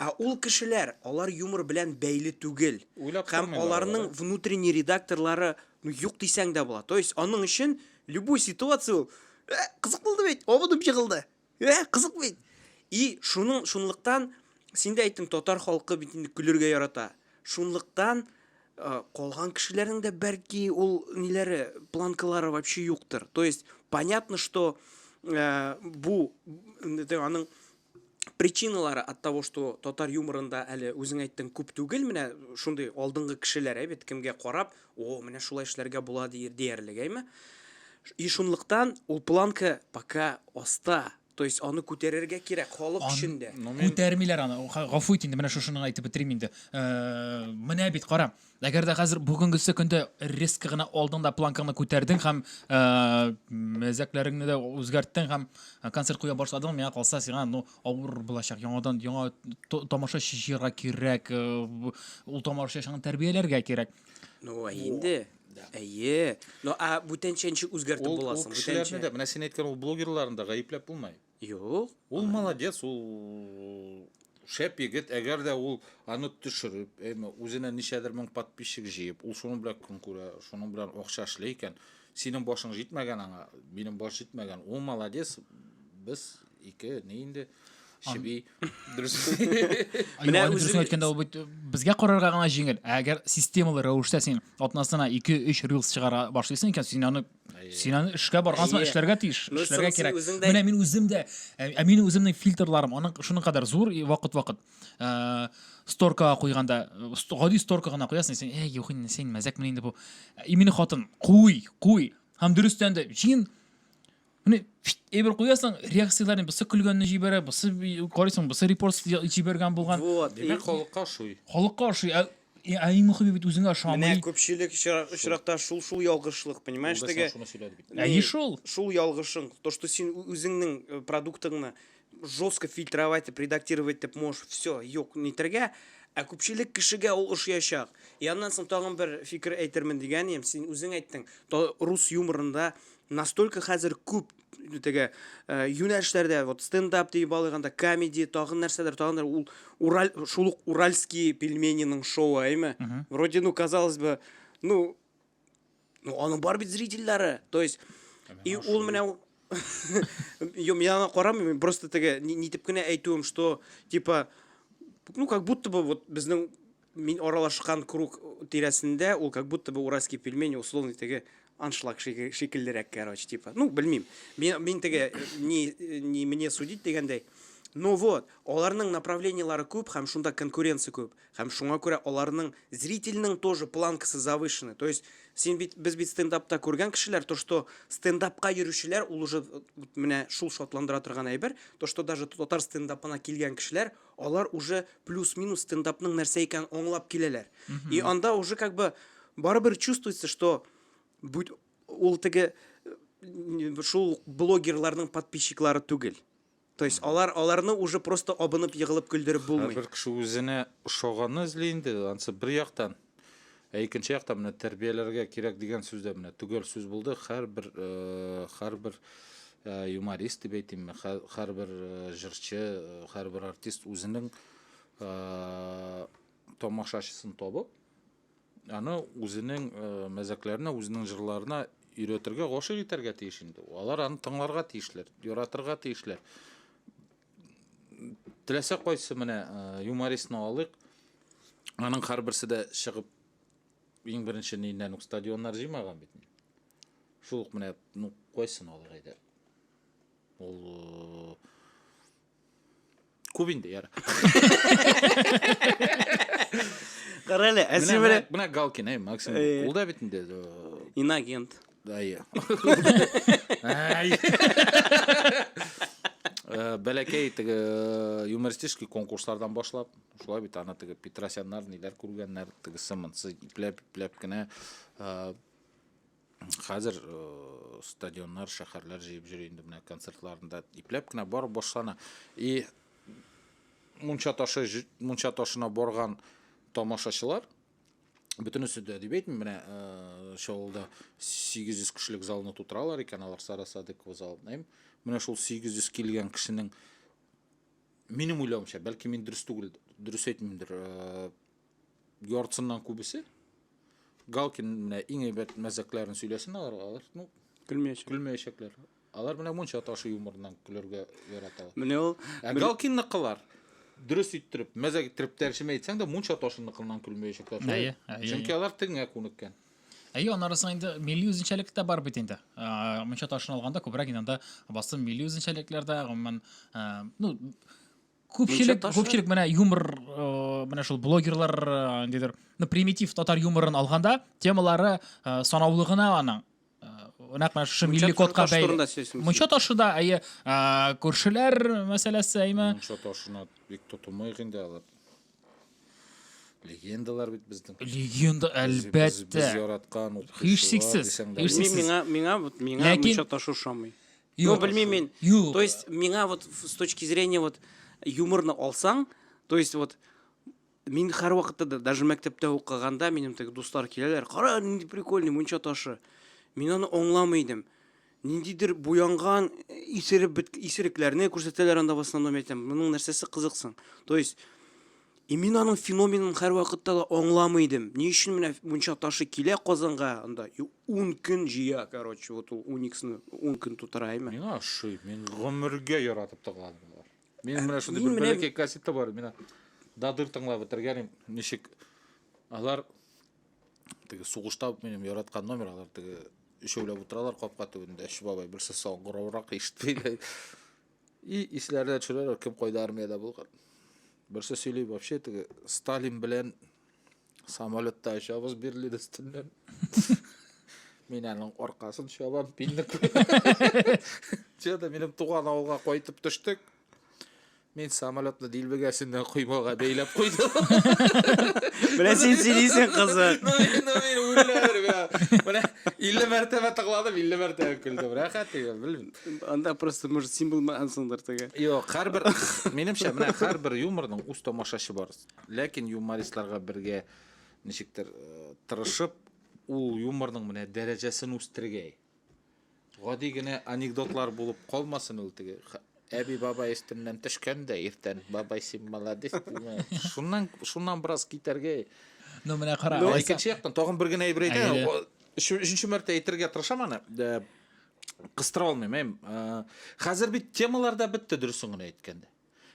Ә ул кешеләр, алар юмор белән бәйле түгел. Уйлап Һәм тормыйлар алар, аларның ә? внутренний редакторлары, ну, юк дисәң дә була. То есть, аның өчен любой ситуация ул, Ә, кызык булды бит, авыдым җыгылды. Ә, кызык бит. И, шуның шунлыктан син дә әйттең, татар халкы бит инде көлергә ярата. Шунлыктан э, калган кешеләрнең дә бәлки ул ниләре, планкалары вообще юктыр. То есть, понятно, что э, бу аның причиналары от того, что татар юморында әле үзең әйттең күп түгел, менә шундый алдынгы кешеләр, ә бит кемгә карап, О, менә шулай эшләргә була дияр, диярлек, әйме? И шунлыктан ул планка пока аста. То есть аны күтәрергә кирәк халык Ан- өчен дә. Ну, мин- Күтәрмиләр аны. Га- Гафу ит инде, менә шушыны әйтеп бетерим инде. Э, Менә бит, кара. Әгәр дә хәзер бүгенгесе көндә резко гына алдың да планкаңны күтәрдең һәм э, мәзәкләреңне дә үзгәрттең һәм концерт куя башладың, миңа калса, сиңа ну авыр булачак яңадан яңа тамашачы җыярга кирәк э, ул тамашачыны тәрбияләргә кирәк ну а инде әйе ну а бүтәнчә ничек үзгәртеп ул, буласың ул кешеләрне дә менә сен әйткән ул блогерларны да гаепләп булмый юк ул молодец ул шәп егет әгәр дә ул аны төшереп әйме үзенә ничәдер мең подписчик җыеп ул шуның белән көн күрә шуның белән акча эшли икән синең башың җитмәгән аңа минем баш җитмәгән ул молодец без Ике, не инде? Чеби. Дөрес. Менә үзем әйткәндә ул бит безгә карарга гына җиңел. Ә әгәр системалы рәвештә син атнасына 2-3 рилс чыгара башлыйсың икән, син аны син аны эшкә баргансың, эшләргә тиеш, эшләргә кирәк. Менә мин үзем дә, ә мин үземнең фильтрларым, аның шуның кадәр зур вакыт-вакыт. Э, сторкага куйганда, гади сторка гына куясың, син, "Эй, юк инде, син мәзәкме инде бу?" Именно хатын, "Куй, куй." Һәм дөрестән дә, җин Менә әйбер куясың, реакцияләрне бусы көлгәнне җибәрә, бусы карыйсың, бусы репост җибәргән булган. Вот. Димәк, халыкка ошый. Халыкка ошый. Ә, ә иң мөхиме бит үзеңә ошамый. Менә күпчелек очракта шул шул ялгышлык, понимаешь, теге. Ә ни шул? Шул ялгышың, то что син үзеңнең э, продуктыңны жестко фильтровать, редактировать дип можешь, все, юк, нитергә, Ә күпчелек кешегә ул ошыячак. И аннан соң тагын бер фикер әйтермен дигән идем. Син үзең әйттең, то рус юморында Настолько хәзер күп теге э, юнәлешләрдә вот стендап диеп алганда комеди тагын нәрсәдер тагын нәрсәдер ул ураль шул ук уральские пельмениның шоуы әйме вроде ну казалось бы ну ну аның бар бит зрительләре то есть и ул менә Йо, мин аны карамыйм, просто теге нитеп кенә әйтүем, что типа ну как будто бы вот безнең Мин аралашкан круг тирәсендә ул как будто бы уральский пельмень условный теге аншлаг шикеллерәк, короче, типа. Ну, белмим. Мин, мин теге, не, не мне судить дигәндәй. Ну вот, аларның направлениелары күп, һәм шунда конкуренция күп. Һәм шуңа күрә аларның зрительның тоже планкасы завышены. То есть, син бит, без бит стендапта күргән кешеләр, то что стендапка йөрүчеләр, ул уже менә шул шатландыра торган әйбер, то что даже татар стендапына килгән кешеләр, Алар уже плюс-минус стендапның нәрсә икәнен аңлап киләләр. И анда уже как бы барыбер чувствуется, что бүт ул теге шул блогерларның подписчиклары түгел. То есть алар аларны уже просто абынып егылып көлдереп булмый. Һәрбер кеше үзенә ошаганны эзли инде, ансы бер яктан. Ә икенче якта менә тәрбияләргә кирәк дигән сүз дә менә төгәл сүз булды. Һәрбер э, һәрбер э, юморист дип әйтимме, һәрбер э, җырчы, һәрбер артист үзенең тамашачысын табып, аны үзенең мәзәкләренә, үзенең җырларына өйрәтергә, гашыйк итәргә тиеш инде. Алар аны тыңларга тиешләр, яратырга тиешләр. Теләсә кайсы менә э, юмористны алыйк. Аның һәрберсе дә чыгып иң беренче ниннән үк стадионнар җыймаган бит. Шул ук менә ну кайсын алыйк әйдә. Ул э, күп инде яра. Карале, ә син менә менә Галкин, әй Максим. Ул да бит инде. Э, Инагент. Әйе. Э, бәләкәй теге э, юмористический конкурслардан башлап шулай бит аны теге петросяннар ниләр күргәннәр теге сымынсыз ипләп ипләп кенә э, хәзер стадионнар шәһәрләр җыеп йөри инде менә концертларында ипләп кенә барып башлана и мунча ташы мунча ташына барган тамашачылар бөтенесе дә дип әйтмим менә э, шул авылда сигез йөз кешелек залны тутыралар икән алар сара садыкова залы дим менә шул сигез йөз килгән кешенең минем уйлавымча бәлки мин дөрес түгел дөрес әйтмимдер э, яртысыннан күбесе галкин менә иң әйбәт мәзәкләрен сөйләсен алар алар ну көлмәячәк көлмәячәкләр Алар менә монча ташы юморыннан көләргә яраталар. Менә ул Ә бер- Галкинныкылар дөрес иттереп, мәзәк иттереп тәрҗемә итсәң дә мунча ташынныкыннан көлмәячәкләр. шулай? Әйе, әйе, Чөнки әйе. алар тегеңә күнеккән. Әйе, аны арасында инде милли үзенчәлек тә бар бит инде. Ә, Мунча ташын алганда күбрәк инде анда басым милли үзенчәлекләр дә, гомумән, ә, ну, күпчелек, Мунча ташы- күпчелек менә юмор, э, менә шул блогерлар, э, ниндидер, ну, примитив татар юморын алганда, темалары э, санаулы гына аның. нәкъ менә шушы милли кодка бәйле мунча ташы да әйе күршеләр мәсьәләсе әйме мунча ташына бик тотылмыйк инде алар легендалар бит безнең легенда әлбәттә без яраткан һичшиксез белмим миңа миңа вот миңа мунча ташы ошамый ну белмим мин то есть миңа вот с точки зрения вот юморны алсаң то есть вот Мин һәрвакытта да, даже мәктәптә укыганда минем теге дуслар киләләр, кара, нинди прикольный мунча ташы. Мин аны аңламый идем. Ниндидер буянган, исереп бет, исерекләрне күрсәтәләр анда в основном әйтәм. Моның нәрсәсе кызыксың? То есть И мин аның феноменын һәрвакытта да аңламый идем. Ни өчен менә мунча ташы килә Казанга анда и 10 көн җыя, короче, вот ул Униксны 10 көн тутыра, әйме? Миңа ошый, мин гомергә яратып тыгладым. Мин менә шундый бер бәләкәй кассета бар, менә дадыр тыңлап бетергәнем, ничек алар теге сугышта минем яраткан номер, алар теге өчәүләп утыралар капка төбендә, өч бабай, берсе саңгыраурак ишетмәйләр. И исләренә төшерәләр, кем кайда армиядә булган. Берсе сөйли, вообще теге Сталин белән Самолетта очабыз бирле өстеннән. Мин аның аркасын чабам, пинник. Чөдә минем туган авылга кайтып төштек. Мин самолетны дилбегәсеннән коймага бәйләп куйдым. Менә син сөйлисең, кызык. Ну, мин, ну, мин үләр, бля. Менә 50 мәртәбә тыңладым, 50 мәртәбә көлдем. Рәхәт теге, белмим. Анда просто, может, син булмагансыңдыр теге. Юк, һәрбер, минемчә, менә һәрбер юморның үз тамашачы бар. Ләкин юмористларга бергә ничектер тырышып, ул юморның менә дәрәҗәсен үстергәй. Гади генә анекдотлар булып калмасын ул теге әби бабай өстеннән төшкән дә иртән бабай син молодец димә. Шуннан шуннан бераз китәргә. Ну менә кара. Ну икенче яктан тагын бер генә әйбер әйтәм. Өченче мәртә әйтергә тырышам аны. Э, кыстыра алмыйм. Э, хәзер бит темалар да бетте дөресен генә әйткәндә.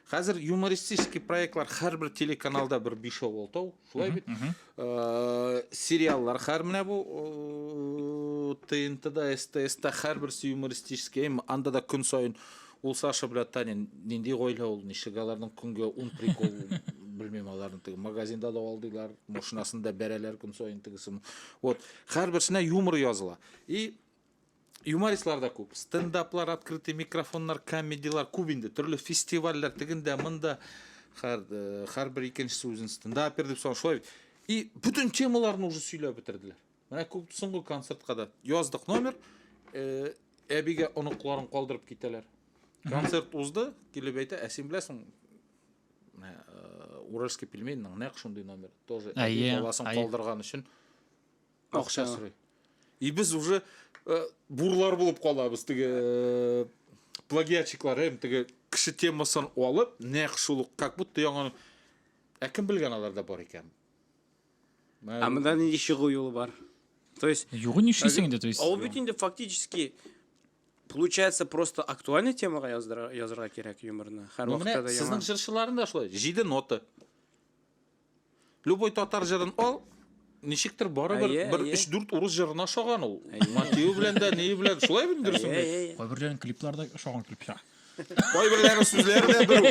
Хәзер юмористический проектлар һәрбер телеканалда бер бишәү алтау, шулай бит? Э, Сериаллар хәр менә бу э, ТНТда, СТСта һәрберсе юмористический, әйме, анда да көн сайын ул Саша белән Таня нинди гаилә ул, ничек аларның көнгә ун прикол белмим аларны теге магазинда да алдылар, машинасында бәрәләр көн сайын тегесен. Вот, һәрберсенә юмор языла. И Юмористлар да күп. Стендаплар, открытый микрофоннар, комедиялар күп инде. Төрле фестивальләр тегендә, монда хәр һәрбер икенчесе үзен стендапер дип соң шулай. И бүтән темаларны уже сөйләп бетерделәр. Менә күп соңгы концертка да яздык номер. Э, әбигә оныкларын калдырып китәләр. Концерт узды, килеп әйтә, ә син беләсең, э, Уральский пельменьның нәкъ шундый номер. Тоже әби баласын калдырган өчен Акча сорый. И без уже э, бурлар булып калабыз теге э, плагиатчиклар һәм теге кеше темасын алып, нәкъ шул ук как будто яңа Ә кем белгән аларда бар икән? Ә монда нинди чыгу юлы бар? То есть Югы нишлисең инде, то есть. Ул бит инде фактически получается просто актуальный темага яздыра язырга кирәк юморны. Һәр вакытта да яңа. Сезнең җырчыларында шулай 7 нота. Любой татар җырын ал, ничектер барыбер Әйе, бер әйе. 3-4 урыс җырына ошаган ул. Мотивы белән дә, нее белән, шулай бит дөресен Әйе, әйт. әйе, әйе. Кайберләрен клипларда ошаган клипча. Кайберләре сүзләре дә бер.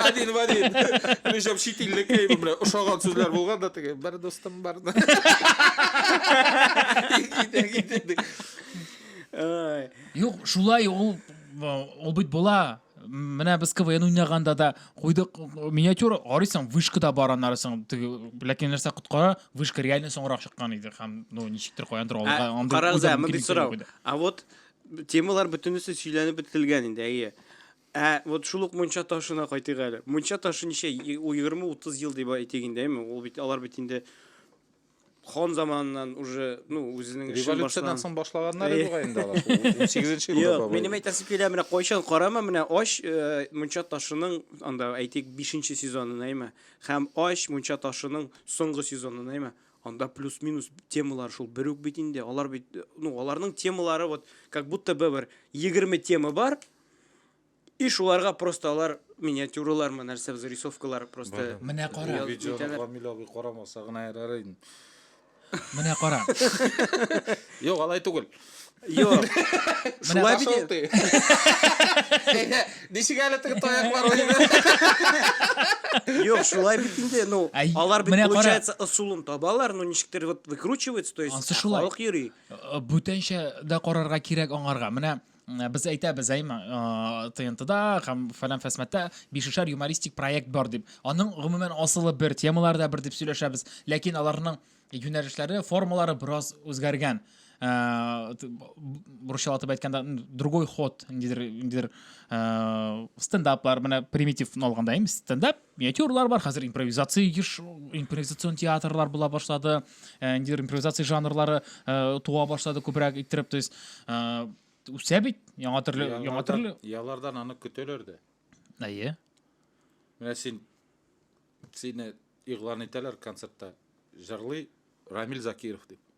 Один в один. Причем чит илле клейбы белән ошаган сүзләр булган да теге бер дустым бар. да». Китә, китә, ди. Ай. Юк, шулай ул ул бит була. Менә без КВН уйнаганда да куйдык миниатюра, карыйсың, вышкада бар аннары соң теге, ләкин нәрсә коткара, вышка реально соңрак чыккан иде һәм ну ничектер каяндыр алга андый. Карагыз, мондый сорау. А вот темалар бөтенесе сөйләнеп бетелгән инде, әйе. Ә вот шул ук мунча ташына кайтыйк әле. Мунча ташы ничә 20-30 ел дип әйтик инде, әйме? Ул бит алар бит инде Хон заманыннан уже, ну, үзенең эшен башлан. Революциядән соң башлаганнар иде бугай инде алар. 18 елда Юк, бабай. минем әйтәсем килә, менә кайчан карама, менә ач э, мунча ташының анда әйтик 5 сезонын әйме, һәм ач мунча ташының соңгы сезонын әйме. Анда плюс-минус темалар шул бер үк бит инде. Алар бит, э, ну, аларның темалары вот как будто бы бер 20 тема бар. И шуларга просто алар миниатюралармы, нәрсә без рисовкалар просто. Менә кара. Бу видеоны Камил абый карамаса гына ярар инде. Менә кара. Юк, алай түгел. Юк. Шулай бит. Ничек әле теге таяклар уйны? Юк, шулай бит инде, ну, алар бит получается ысулын табалар, но ничектер вот выкручивается, то есть халык йөри. Бүтәнчә дә карарга кирәк аңарга. Менә Без әйтәбез әйм ТНТда һәм фәлән фәсмәттә бишешәр юмористик проект бар дип. Аның гомумән асылы бер, темалары да бер дип сөйләшәбез. Ләкин аларның юнәлешләре, формалары бераз үзгәргән. Э, русча атап әйткәндә другой ход ниндидер ниндидер э, стендаплар менә примитив алганда им стендап миниатюралар бар хәзер импровизация еш импровизацион театрлар була башлады ә, ниндидер импровизация жанрлары ә, туа башлады күбрәк иттереп то есть ә, үсә бит яңа төрле яңа төрле ялардан аны көтәләр дә әйе менә син сине игълан итәләр концертта җырлый рамил закиров дип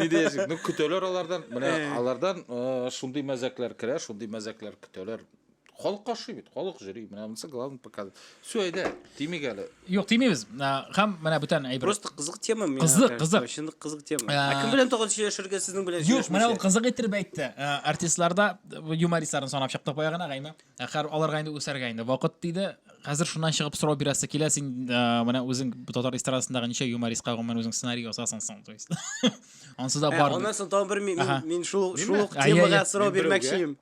не диясең ну көтәләр алардан менә алардан шундый мәзәкләр керә шундый мәзәкләр көтәләр халык каршый бит халык жюри менә монысы главный показатель все әйдә тимик әле юк тимибез һәм менә бүтән әйбер просто кызык тема кызык кызык чын кызык тема ә кем белән тагын сөйләшергә сезнең белән юк менә ул кызык иттереп әйтте артистларда юмористларны санап чыктык баягына гайме Ә хәр аларга инде үсәргә инде вакыт тиде. Хәзер шуннан чыгып сорау бирәсе килә, син ә, менә үзең татар эстрадасындагы ничә юмористка гомумән үзең сценарий ясасың соң, то есть. Ансы да бар. Аннан соң тагын бер мин, ага. мин шул шул ук темага сорау бирмәкчеем.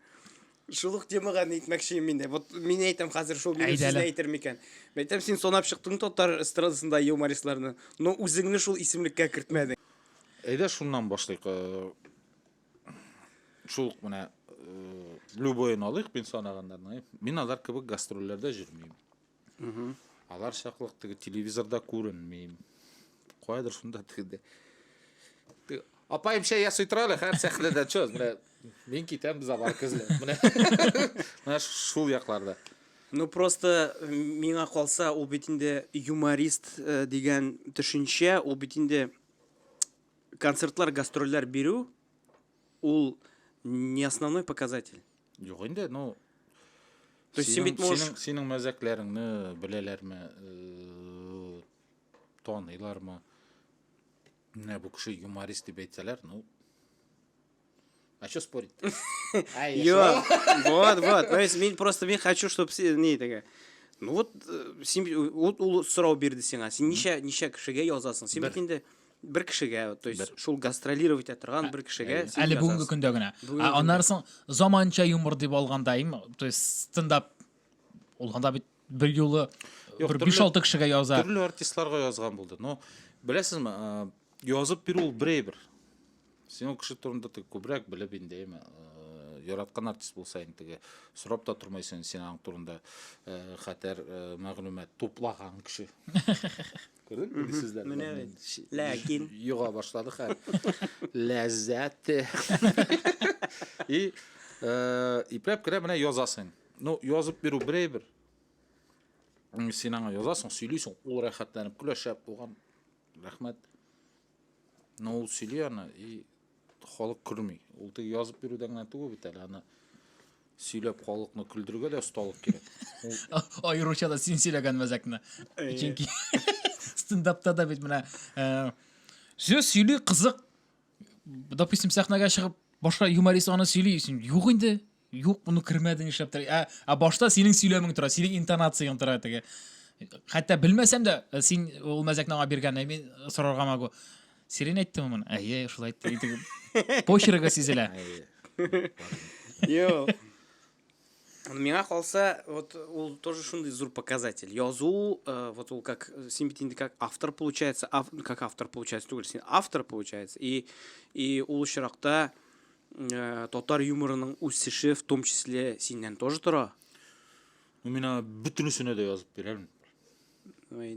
Шул ук темага әйтмәкчеем мин дә. Вот мин әйтәм хәзер шул минем сүзне әйтер микән? Әйтәм син сонап чыктың татар эстрадасында юмористларны, но үзеңне шул исемлеккә кертмәдең. Әйдә шуннан башлыйк. Э, шул ук менә э, любойын алыйк мин санаганнарны мин алар кебек гастрольләрдә җөрмим алар чаклык теге телевизорда күренмим кайдыр шунда теге апаем чәй ясый тора әле һәр сәхнәдә чөз менә мин китәм забар көзле менә менә шул якларда Ну просто миңа калса ул бит инде юморист э, дигән төшенчә, ул бит инде концертлар, гастрольләр бирү ул не основной показатель. Юк инде, ну То есть син бит можешь синең, синең мәзәкләреңне беләләрме, э, таныйлармы? Менә бу кеше юморист дип әйтсәләр, ну А что спорить? А, Йо, вот, вот. То есть, мен просто мен хочу, чтобы не такая. Ну вот, э, сен ул сорау бирде сиңа. Син ничә ничә кешегә язасың? Син бит инде бер кешегә, то есть шул гастролировать торган бер кешегә. Әле бүгенге көндә генә. Аннары соң заманча юмор дип алганда, то есть стендап ул анда бит бер юлы Юк, бер төрле- биш алты кешегә яза төрле артистларга язган булды но беләсезме ә, язып бирү ул бер әйбер син ул кеше турында теге күбрәк белеп инде әйме ә, яраткан артист булса инде теге сорап та тормыйсың син аның турында ә, хәтәр ә, мәгълүмат туплаган кеше күрдең теге сүзләр Менә белән бит. ши- Ләкин. йога башлады хәл ләззәте и ә, ипләп кенә менә язасың Ну, язып бирү бер әйбер. Син аңа язасың, сөйлисең, ул рәхәтләнеп көлә, шәп булган. Рәхмәт. Но ул сөйли аны и халык көлми. Ул теге язып бирүдә генә түгел бит әле аны сөйләп халыкны көлдерергә дә осталык кирәк. Ул аеруча да син сөйләгән мәзәкне. Чөнки стендапта да бит менә э, сүз сөйли кызык. Допустим, сәхнәгә чыгып башка юморист аны сөйли, юк инде. Юк, моны кермәде нишләптер. Ә, ә башта синең сөйләмең тора, синең интонацияң тора теге. Хәтта белмәсәм дә, э, син ул мәзәкне аңа биргән, ә мин сорарга могу. Сирен әйттеме моны? Әйе, шулай әйтте. Итеп. Почеркы сизелә. Йо. Миңа калса, вот ул тоже шундый зур показатель. Язу, э, вот ул как э, син бит инде как автор получается, ав, как автор получается түгел, син автор получается. И и ул очракта Э, татар юморының үсеше в том числе синнән тоже тора ну мин аны бөтенесенә дә язып бирәм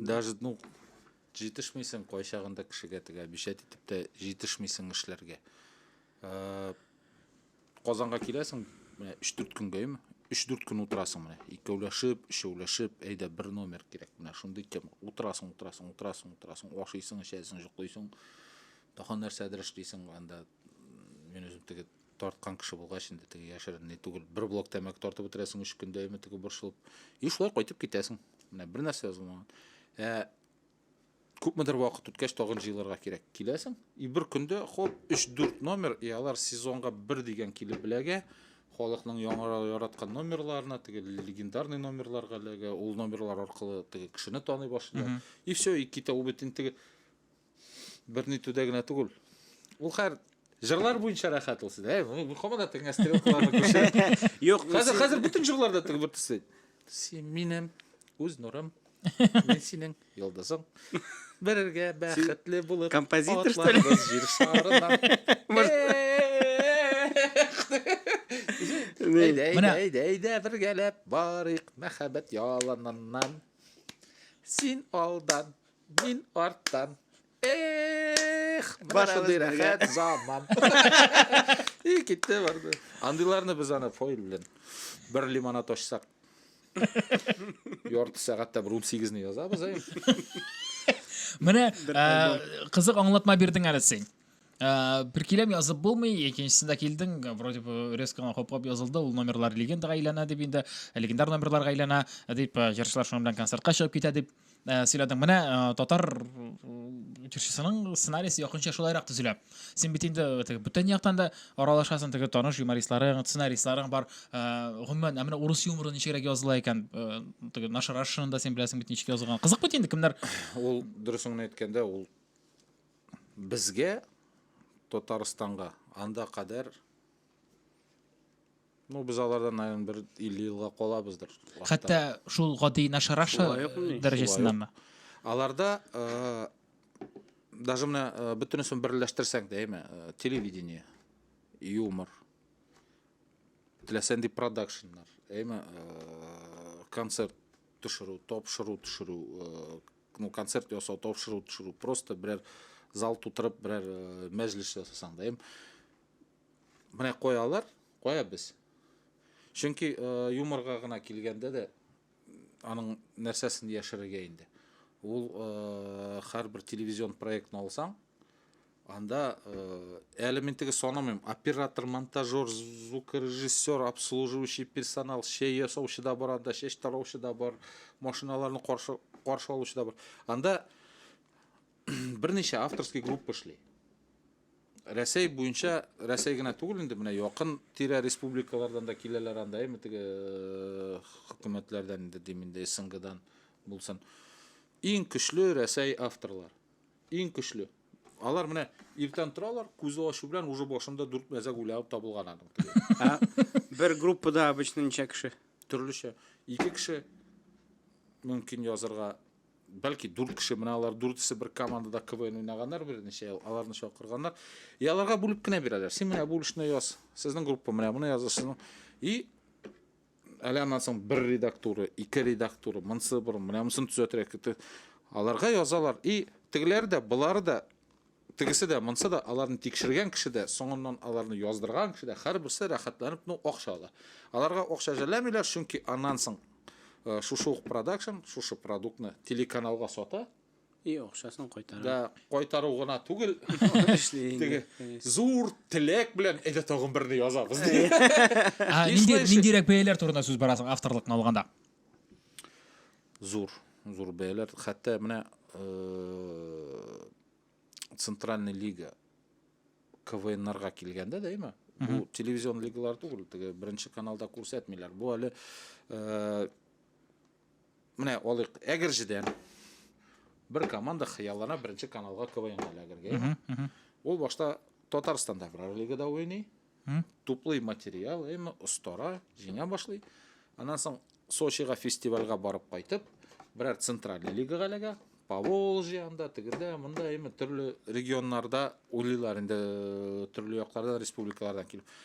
даже ну җитешмисең кайчагында кешегә теге обещать итеп тә җитешмисең эшләргә э, казанга киләсең менә өч дүрт көнгә ме өч дүрт көн утырасың менә икәүләшеп өчәүләшеп әйдә бер номер кирәк менә шундый тема утырасың утырасың утырасың утырасың ашыйсың эчәсең йоклыйсың тагын нәрсәдер эшлисең анда Мин үзем теге тарткан кеше булгач инде теге яшерен ни түгел. Бер блок тәмәке тартып бетерәсең өч көндә әйме теге борчылып. И шулай кайтып китәсең. Менә бер нәрсә язылмаган. Ә күпмедер вакыт үткәч тагын җыйларга кирәк. Киләсең. И бер көндә хоп 3-4 номер, и алар сезонга бер дигән килеп беләгә. Халыкның яңара яраткан номерларына, теге легендарный номерларга ләгә, ул номерлар аркылы теге кешене таный башлый. И все, и китә ул бит инде теге Бер нитүдә генә түгел. Ул хәр Җырлар буенча рәхәт ул сездә. Мин һаман да тегенә стрелкаларны күрсәтәм. Юк, хәзер хәзер бөтен җырларда теге бер төсе. Син минем үз нурым. Мин синең йолдызың. Берергә бәхетле булып. Композитор что ли? Җир шарына. Әйдә, әйдә, әйдә, әйдә, бергәләп барыйк мәхәббәт яланыннан. Син алдан, Мин арттан. Эх, менә шундый рәхәт заман. И китте барды. Андыйларны без аны фойл белән бер лимонад ачсак. Ярты сәгатьтә бер 18 не язабыз, әй. Менә э, кызык аңлатма бирдең әле син. Э, бер киләм язып булмый икенчесендә килдең вроде бы резко гына хуплап язылды ул номерлар легендаға әйләнә дип инде э, легендар номерларга әйләнә э, дип җырчылар шуның белән концертка чыгып китә дип сөйләдең менә татар җырчысының сценарийсы якынча шулайрак төзелә син бит инде бүтән яктан да аралашасың теге таныш юмористларың сценаристларың бар гомумән ә менә урыс юморы ничегрәк языла икән теге нашарашшаны да син беләсең бит ничек язылган кызык бит инде кемнәр ул дөресен генә әйткәндә ул Безгә, Татарстанга, анда кадәр Ну, без алардан, наверное, бер 50 елга калабыздыр. Хәтта шул гади нашараша дәрәҗәсендәме? Аларда э, даже менә э, бөтенесен берләштерсәң дә, әйме, э, телевидение, юмор, теләсән дип продакшннар, әйме, концерт төшерү тапшыру төшерү ну концерт ясау тапшыру төшерү просто берәр зал тутырып берәр мәҗлес жасасаң да менә куялар кая без чөнки юморга гына килгәндә дә аның нәрсәсен яшерергә инде ул һәрбер телевизион проектны алсаң Анда әле мин теге санамыйм. Оператор, монтажер, звукорежиссер, обслуживающий персонал, чәй ясаучы да бар анда, чәч тараучы да бар, машиналарны каршы каршы алучы да бар. Анда берничә авторский группа эшли. Рәсәй буенча, Рәсәй генә түгел инде, менә якын тирә республикалардан да киләләр анда, әйме теге э, хөкүмәтләрдән инде дим инде СНГдан булсын. Иң көчле Рәсәй авторлар. Иң көчле. Алар менә иртән торалар, күзе ачу белән уже башында дүрт мәзәк уйланып табылган аның. Ә бер группада обычно ничә кеше? Төрлечә. Ике кеше мөмкин язырга, бәлки дүрт кеше, менә алар дүртесе бер командада КВН уйнаганнар берничә ел, аларны чакырганнар. И аларга бүлеп кенә бирәләр. Син менә бүлешне яз. Сезнең группа менә моны язды, сезнең. И әле аннан соң бер редактура, ике редактура, монысы борын, менә монысын төзәтерәк. Аларга язалар. И тегеләр дә, болар да, тегесе дә, монысы да, аларны тикшергән кеше дә, соңыннан аларны яздырган кеше дә, һәрберсе рәхәтләнеп ну акча ала. Аларга акча жәлләмиләр, чөнки аннан соң э, шушы ук продакшн, шушы продуктны телеканалга сата, И акчасын кайтара. Да кайтару гына түгел. Теге зур теләк белән әйдә тагын берне язабыз. Нинди ниндирәк бәяләр турында сүз барасың авторлыкны алганда? Зур, зур бәяләр. Хәтта менә э, Центральная лига КВНнарга килгәндә дә, әйме? Бу телевизион лигалар түгел, теге беренче каналда күрсәтмиләр. Бу әле э, Менә алыйк Әгерҗедән. Бер команда хыяллана беренче каналга КВНга эләгергә. Ул башта Татарстанда аграр лигада уйный. Туплый материал, әмма остара, җиңә башлый. Аннан соң Сочига фестивальгә барып кайтып, берәр центральный лигага эләгә. Поволжье анда, тегендә, монда әйме төрле регионнарда уйлыйлар инде төрле яклардан, республикалардан килеп.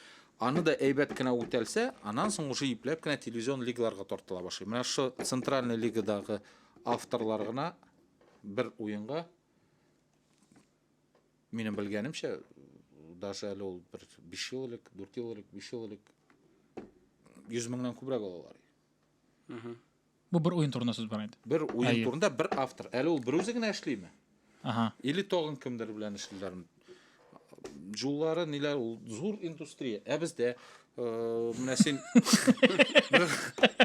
Аны да әйбәт кенә үтәлсә, анан соң уже ипләп кенә телевизион лигаларга тартыла башлый. Менә шо центральный лигадагы авторлар гына бер уенга минем белгәнемчә даже әле ул бер 5 ел элек, 4 ел элек, 5 ел элек 100 меңнән күбрәк алалар. Бу бер уен турында сүз бара инде. Бер уен турында бер автор. Әле ул берүзе генә эшлиме? Ага. Или тагын кемдер белән эшлиләрме? Җуллары ниләр ул зур индустрия. Ә бездә э, менә син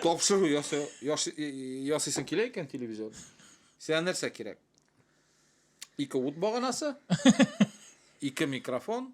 тапшыру ясыйсың килә икән телевизор. Сиңа нәрсә кирәк? Ике ут баганасы, ике микрофон,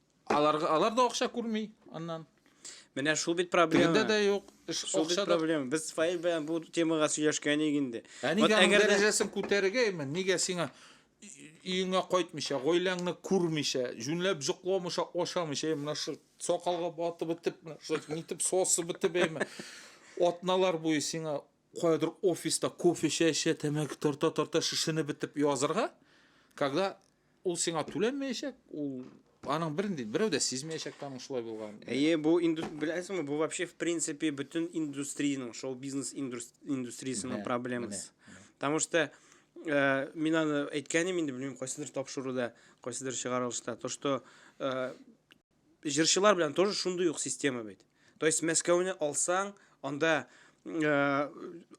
Алар, алар да акча күрми аннан. Менә шул бит проблема. Тегендә дә юк. Эш шул бит проблема. Без файл белән бу темага сөйләшкән идек инде. Ә нигә вот, әгәр дәрәҗәсен күтәрергә имән? Нигә сиңа өеңә кайтмыйча, гаиләңне күрмичә, җүнләп җокламыйча, ашамыйча, менә шу сакалга батып бетеп, менә шу нитеп сосып бетеп, әйме. Атналар буе сиңа каядыр офиста кофе чәчә, тәмәке тарта-тарта шешенеп бетеп язырга, когда ул сиңа түләнмәячәк, ул аның бер инде берәү дә сизмәячәк тә аның шулай булган. Әйе, бу инду беләсеңме, бу вообще в принципе бөтен индустриянең, шоу-бизнес индустриясенең проблемасы. Потому что э, мин аны әйткәнем инде, белмим, кайсыдыр тапшыруда, кайсыдыр чыгарылышта, то что э, Җырчылар белән тоже шундый ук система бит. То есть Мәскәүне алсаң, анда э,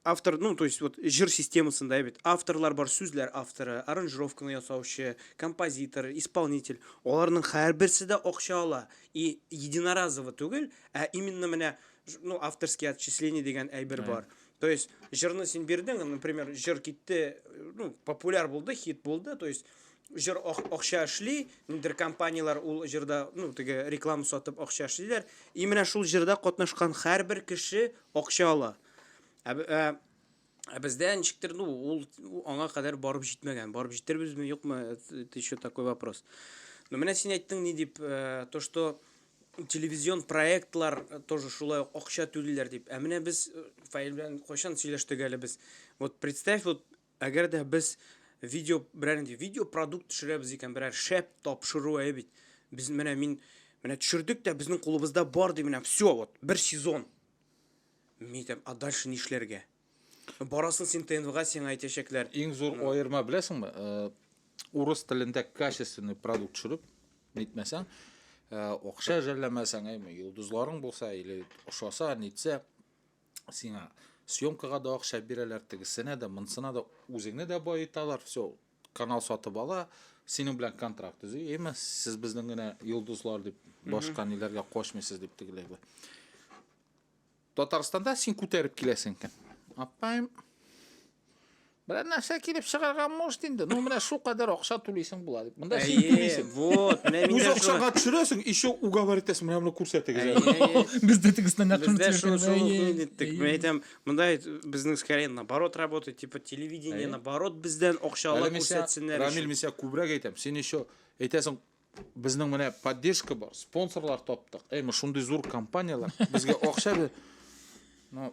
автор, ну, то есть вот җыр системасында бит авторлар бар, сүзләр авторы, аранжировканы ясаучы, композитор, исполнитель. Аларның һәрберсе дә акча ала. И единоразово түгел, ә именно менә ну, авторский отчисление дигән әйбер бар. То есть җырны син бирдең, например, җыр китте, ну, популяр булды, хит булды, то есть Җыр акча эшли, ниндидер компанияләр ул җырда, ну, теге реклама сатып акча эшлиләр. И менә шул җырда катнашкан һәрбер кеше акча ала. Ә, ә, ә бездә ничектер, ну, ул аңа кадәр барып җитмәгән. Барып җитербезме, юкмы, это еще такой вопрос. Но менә син әйттең ни дип, э, то что телевизион проектлар э, тоже шулай акча түлиләр дип. Ә менә без э, Фаил белән кайчан сөйләштек әле без. Вот представь, вот Әгәр дә без видео, берәр инде видео продукт төшерәбез икән, берәр шәп тапшыру әйе бит. Без менә мин менә төшердек тә безнең кулыбызда бар ди менә все вот бер сезон. Мин әйтәм, а дальше нишләргә? Барасын син ТНВга сиңа әйтәчәкләр. Иң зур аерма беләсеңме? Э, урыс телендә качественный продукт төшереп, нитмәсәң, э, акча жәлләмәсәң, әйме, йолдызларың булса или ошаса, нитсә, сиңа съемкага да акча бирәләр тегесенә дә монысына да үзеңне дә баеталар все канал сатып ала синең белән контракт төзи әйме сез безнең генә йолдызлар дип башка ниләргә качмыйсыз дип тегеләй бу татарстанда син күтәреп киләсең икән аппаем Берәр нәрсә килеп чыгарга может инде. Ну, менә шу кадәр акча түлисең була дип. Монда син Әйе, түлисең. вот, менә мин Үз дә шуны- акчаңа төшерәсең, еще уговор итәсең, менә моны күрсәтегез. Әйе, әле. әйе. Без дә тегесеннән нәкыль Бездә шул сөйләгән, шул әйе, уку иттек. әйе. Мин әйтәм, монда безнең скорее наоборот работает, типа телевидение Әйе. наоборот бездән Әле акчалы мин сиңа, күрсәтсеннәр. Рамил, өчен. мин сиңа күбрәк әйтәм. Син еще әйтәсең, безнең менә поддержка бар, спонсорлар таптык. Әй, мы шундый зур компанияләр, безгә акча бир. Ну,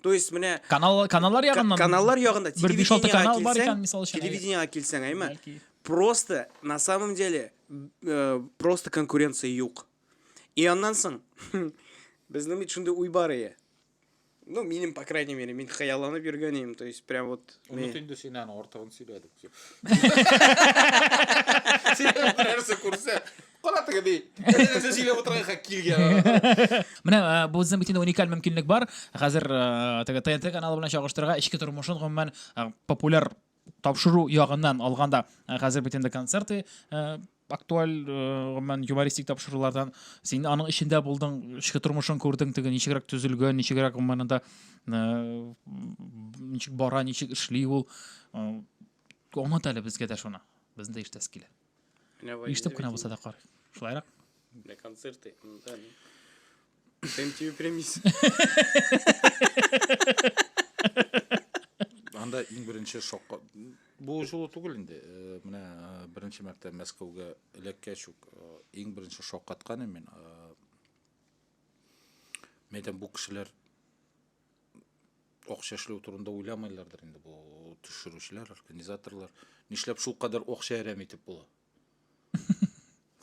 То есть менә канал каналлар ягыннан каналлар ягында телевидениега килсәң, телевидениега килсәң, әйме? Просто на самом деле э, просто конкуренция юк. И аннан соң безнең бит шундый уй бар ие. Ну, минем, по крайней мере, мин хыялланып йөргән идем, то есть прям вот. Онут инде син аны артыгын сөйләдек. Син нәрсә күрсә, Кара теге ди. Нәрсә сөйләп утырганга килгән. Менә э, бу безнең бит уникаль мөмкинлек бар. Хәзер э, теге ТНТ каналы белән чагыштырырга эчке тормышын гомумән э, популяр тапшыру ягыннан алганда э, хәзер бит инде концерты э, актуаль э, гомумән юмористик тапшырулардан син аның эчендә булдың, эчке тормышын күрдең, теге ничегрәк төзелгән, ничегрәк гомумән анда э, ничек бара, ничек эшли ул. Э, Аңлат әле безгә дә шуны. Безне дә иштәс килә. Ишетеп кенә булса да карыйк. Шулайрак. Для концерты. Да, ну. Дэм тебе премис. Анда иң беренче шокка бу жолы түгел инде. Э, менә э, беренче мәртә Мәскәүгә эләккәч үк э, иң беренче шоккатканым мин. Мәйтәм бу кешеләр акча эшләү турында уйламыйлардыр инде бу төшерүчеләр, организаторлар. Нишләп шул кадәр акча әрәм итеп була?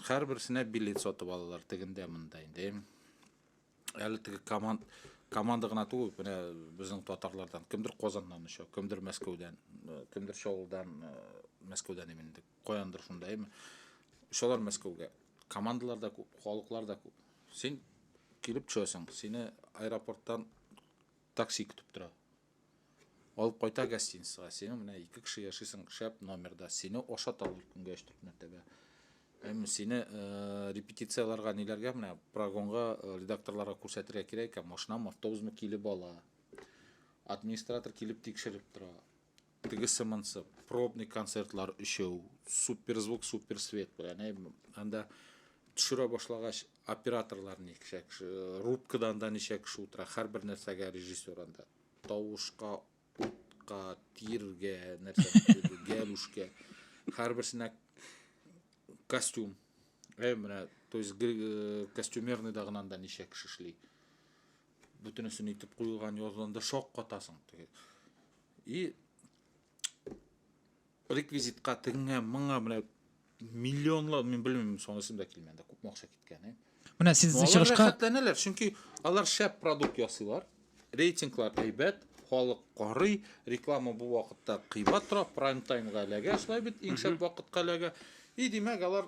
Һәрберсенә билет сатып алалар тегендә монда инде. Әле теге команд команда гына түгел, менә безнең татарлардан кемдер Казаннан оча, кемдер Мәскәүдән, кемдер Чаллыдан, Мәскәүдән имендек. Каяндыр шунда, әйме. Шулар Мәскәүгә. Командалар да күп, халыклар да күп. Син килеп төшәсең, сине аэропорттан такси көтеп тора. Алып кайта гостиницага. Сине менә ике кеше яшисең шәп номерда. Сине ашаталар көнгә 3-4 мәртәбә. Әмма сине э, репетицияләргә ниләргә менә прогонга э, редакторларга күрсәтергә кирәк икән, машинамы, автобусмы килеп ала. Администратор килеп тикшереп тора. Тегесе монсып, пробный концертлар өчәү, суперзвук, суперсвет белән, әй, анда төшерә башлагач, операторлар ничә кеше, рубкада анда ничә кеше утыра, һәрбер нәрсәгә режиссер анда. Тавышка, утка, тиргә, нәрсә, гәлүшкә, һәрберсенә костюм. Әй, менә, то есть э, костюмерный да гына анда ничә кеше эшли. Бөтенесен итеп куелган язылында шаккатасың. И реквизитка тегеңә моңа менә миллионлар мин белмим соны исемдә килми анда күпме акча киткәне менә сез чыгышка рәхәтләнәләр чөнки алар шәп продукт ясыйлар рейтинглар әйбәт халык карый реклама бу вакытта кыйбат тора прайм таймга эләгә шулай бит иң шәп вакытка эләгә и димәк алар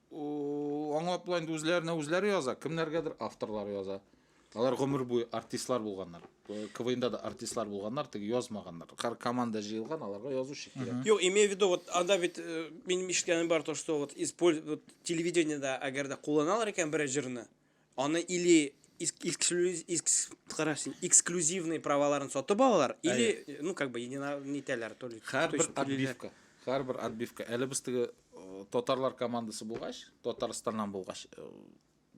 аңлап була инде үзләренә үзләре яза, кемнәргәдер авторлар яза. Алар гомер буе артистлар булганнар. Э, КВНда да артистлар булганнар, теге язмаганнар. Кар команда җыелган, аларга язучы кирәк. Юк, имею в виду, вот анда бит э, минем ишеткәнем бар то, что вот используют телевидениедә, әгәр дә кулланалар икән берәр җырны, Аны или эксклюзивный праваларын сатып алалар, или, ну, как бы, нитәләр, то ли. Хәрбер отбивка. Хәрбер отбивка. Әле без теге э, татарлар командасы булгач, Татарстаннан булгач, э,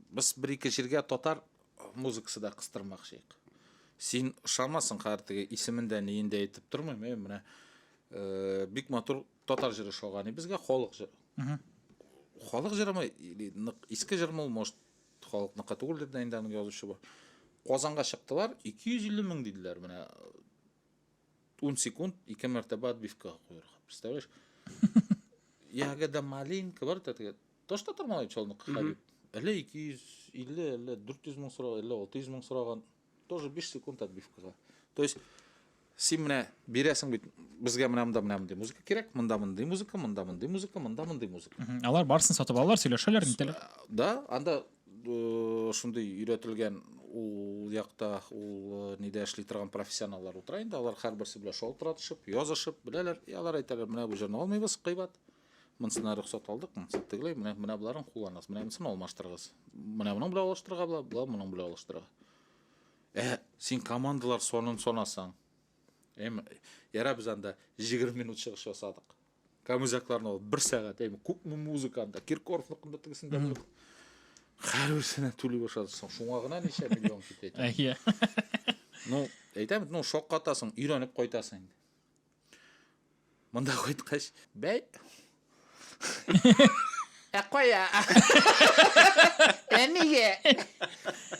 без бер-ике җиргә татар э, музыкасы да кыстырмакчыйк. Син ышанмасаң, хәзер теге исемен дә, әйтеп тормыйм, менә бик матур Татар җыры шагани безгә халык җыры. Халык җырымы или нык иске җырмы ул, может, халыкныкы түгелдер дә инде аның язучы бар. Казанга чыктылар, 250 мең диделәр менә 10 секунд ике мәртәбә отбивкага куярга. Представляешь? Ягода малинка бар да теге. Таш татар малай чалны кыхабип. Әле 250, әле 400 мең сораган, әле 600 мең сораган. Тоже 5 секунд отбивкага. То есть син менә бирәсең бит безгә менә монда менә мондый музыка кирәк, монда мондый музыка, монда мондый музыка, монда мондый музыка. Алар барсын сатып алалар, сөйләшәләр, нитәләр. Да, анда э, шундый өйрәтелгән ул якта ул э, нидә эшли торган профессионаллар утыра инде, алар һәрберсе белән шалтыратышып, язышып, беләләр, и алар әйтәләр, менә бу җырны алмыйбыз, кыйбат. Монсына рөхсәт алдык, монсы тегеләй, менә менә боларын кулланасыз, менә монсын алмаштырыгыз. Менә моның белән алыштырырга була, була моның белән алыштырырга. Ә син командалар сонын сонасаң. Эм, яра без анда 20 минут чыгыш ясадык. Камызякларны алып 1 сәгать, эм, күпме музыка анда, Киркоровныкында тегесендә булып. Хәрбисенә түли башладык соң. Шуңа гына ничә миллион китә. Әйе. Ну, әйтәм, ну шаккатасың, өйрәнеп кайтасың инде. Монда кайткач, бәй. Ә кая? Әмигә.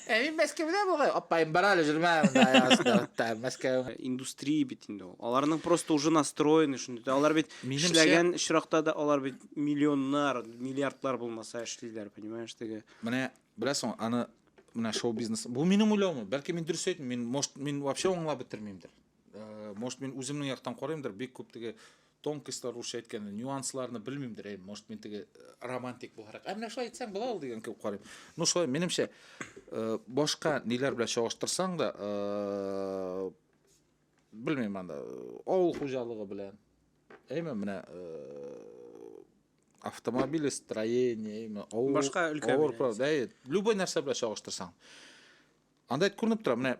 Ә мин Мәскәүдә бугай. Апаем бар әле җөрмә монда язда. Мәскәү индустрия бит инде ул. Аларның просто уже настроены шундый. Алар бит эшләгән очракта да алар бит миллионнар, миллиардлар булмаса эшлиләр, понимаешь, теге. Менә беләсең, аны менә шоу бизнес. Бу минем уйлавым. Бәлки мин дөрес әйтмим. Мин, может, мин вообще аңлап бетермимдер. Э, может мен үземнең яктан карыймдыр бик күп теге тонкостьлар русча әйткәндә нюансларны белмимдер әй может мен теге э, романтик буларак ә менә шулай әйтсәң була ул дигән кебек карыйм ну шулай минемчә э, башка ниләр белән чагыштырсаң да белмим анда авыл хуҗалыгы белән әйме менә автомобиль строение әйме авыл башка өлкә любой нәрсә белән чагыштырсаң анда әйтеп күренеп тора менә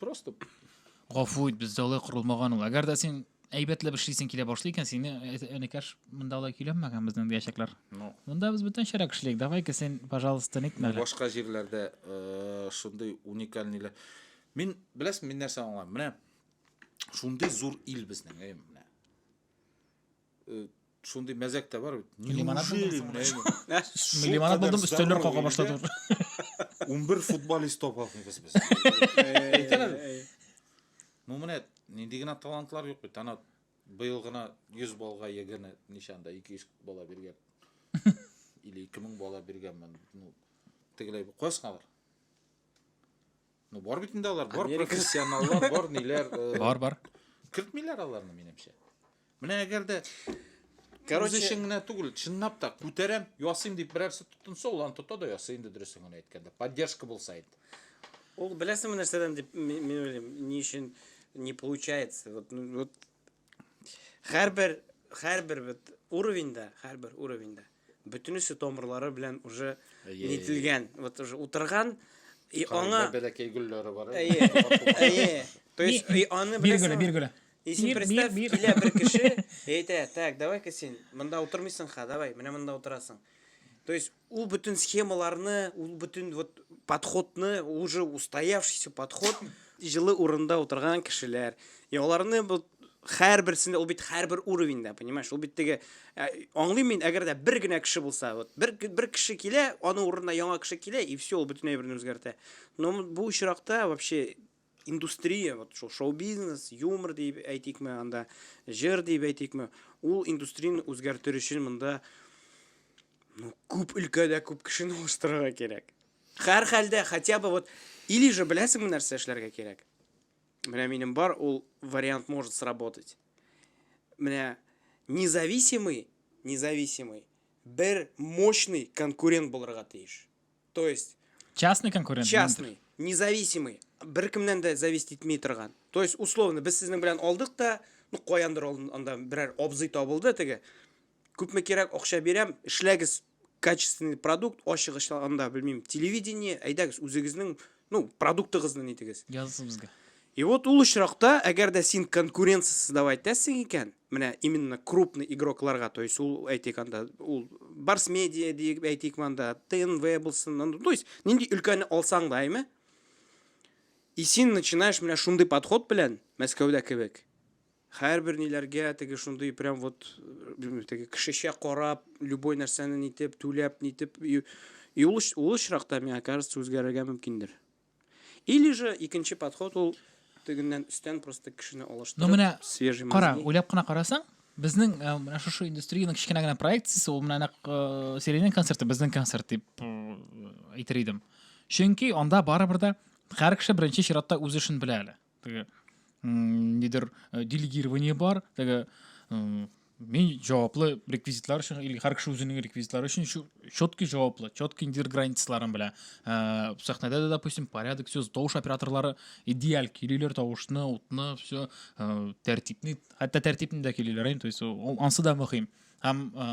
просто гафу ит бездә алай корылмаган ул әгәр дә син әйбәтләп эшлисең килә башлый икән сине энекәш монда алай көйләнмәгән безнең диячәкләр ну. монда без бүтән чара кешелек давай ка син пожалуйста нитмә әле башка җирләрдә э, шундый уникальныйлар мин беләсең мин нәрсә аңлам менә шундый зур ил безнең әй менә Э, шундый мәзәк тә бар бит лимонад лимонад булдым өстәлләр кага башлады он бер футболист таба алмыйбыз без ну менә нинди генә талантлар юк бит ана быел гына йөз баллга егерме ничанда ике йөз бала биргән или ике мең бала биргәнмен ну тегеләй кайсыңалар Ну, бар бит инде алар, бар профессионаллар, бар ниләр. Э, бар, бар. Кертмиләр аларны, минемчә. Менә әгәр дә Короче, өчен генә түгел, чынлап та күтәрәм, ясыйм дип берәрсе тотынса, ул аны тота да ясый инде дөресен генә әйткәндә. Поддержка булса инде. Ул беләсеңме нәрсәдән дип мин уйлыйм, ни өчен не получается. Вот, ну, вот Хәрбер, хәрбер бит уровеньда, хәрбер уровеньда. Бүтүнесе томырлары белән уже нителгән, вот уже утырган и аңа бәләкәй гөлләре бар. Әйе. Әйе. То есть и аны бир гөле, бир гөле. И син представь, килә бер кеше, әйтә, так, давай-ка син монда утырмыйсың ха, давай, менә монда утырасың. То есть Ул бөтен схемаларны, ул бөтен вот подходны, уже устоявшийся подход, җылы урында утырган кешеләр. И аларны вот хәр берсендә ул бит хәр бер уровеньда, понимаешь? Ул бит теге ә, аңлыйм мин, әгәр дә бер генә кеше булса, вот бер бер кеше килә, аның урынына яңа кеше килә и все, ул бөтен әйберне үзгәртә. Но бу очракта вообще индустрия, вот шул шоу-бизнес, юмор дип әйтикме, анда җыр дип әйтикме, ул индустрияне үзгәртер өчен монда ну, күп өлкәдә күп кешене алыштырырга кирәк. Хәр хәлдә, хотя бы вот, или же беләсеңме нәрсә эшләргә кирәк? Менә минем бар, ул вариант может сработать. Менә независимый, независимый, бер мощный конкурент булырга тиеш. То есть частный конкурент частный независимый беркемнән дә зависеть итми торган то есть условно без сезнең белән алдык та ну каяндыр анда берәр абзый табылды теге күпме кирәк акча бирәм эшләгез качественный продукт ашыгыч анда белмим телевидение әйдәгез үзегезнең ну продуктыгызны нитегез языгыз безгә и вот ул очракта әгәр дә син конкуренция создавать итәсең икән менә именно крупный игрокларга то есть ул әйтик анда ул барс медиа дип әйтик анда тнв булсын анда то есть нинди өлкәне алсаң да әйме и син начинаешь менә шундый подход белән мәскәүдә кебек һәрбер ниләргә теге шундый прям вот э, теге кешечә карап любой нәрсәне нитеп түләп нитеп и ул очракта миңа кажется үзгәрергә мөмкиндер Или же икенче подход ул тегеннән өстән просто кешене алыштырып. Ну менә свежий кара, уйлап кына карасаң, безнең э, менә шушы индустриянең кечкенә генә проекциясе ул менә нәкъ э, Сиренин концерты безнең концерт дип э, әйтер идем. Чөнки анда барыбер дә һәр кеше беренче чиратта үз эшен белә әле. Теге нидер э, делегирование бар, теге мин җаваплы реквизитлар өчен или һәр кеше үзенең реквизитлары өчен четкий җаваплы четкий индир границаларын белә ә, сәхнәдә дә допустим порядок все тавыш операторлары идеаль килүләр тавышны утны все ә, тәртипне хәтта тәртипне дә килүләр то есть ансы да мөһим һәм ә,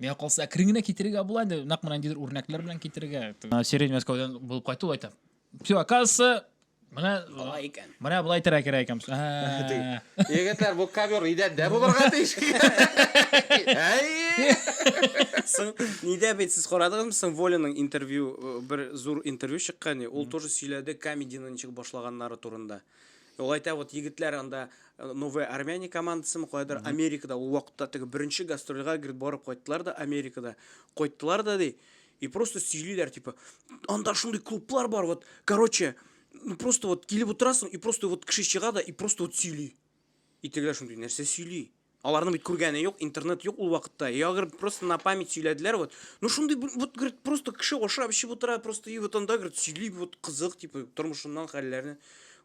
миңа калса әкрен генә китерергә була инде нәкъ менә ниндидер үрнәкләр белән китерергә сирень мәскәүдән булып кайту әйтәм Все, оказывается, Менә алай икән. Менә болай терә кирәк икән. Егетләр, бу ковер идәндә булырга тиеш. Әй! Соң нидә бит сез карадыгызмы соң Волиның интервью э, бер зур интервью чыккан, ул тоже сөйләде комедины ничек башлаганнары турында. Ул әйтә, вот егетләр анда э, Новая Армяне командасымы кайдыр Америкада ул вакытта теге беренче гастрольга грит барып кайттылар да Америкада. Кайттылар да ди. И просто сөйлиләр, типа, анда шундый клублар бар, вот, короче, ну просто вот килеп утырасың, и просто вот кеше чыга да, и просто вот сөйли. И тегеләр шундый, нәрсә сөйли? Аларның бит күргәне юк, интернет юк ул вакытта. Я говорю, просто на память сөйләделәр, вот. Ну шундый, вот, говорит, просто кеше ашап, эчеп утыра, просто и вот анда, говорит, сөйли, вот, кызык, типа, тормышыннан хәлләрне.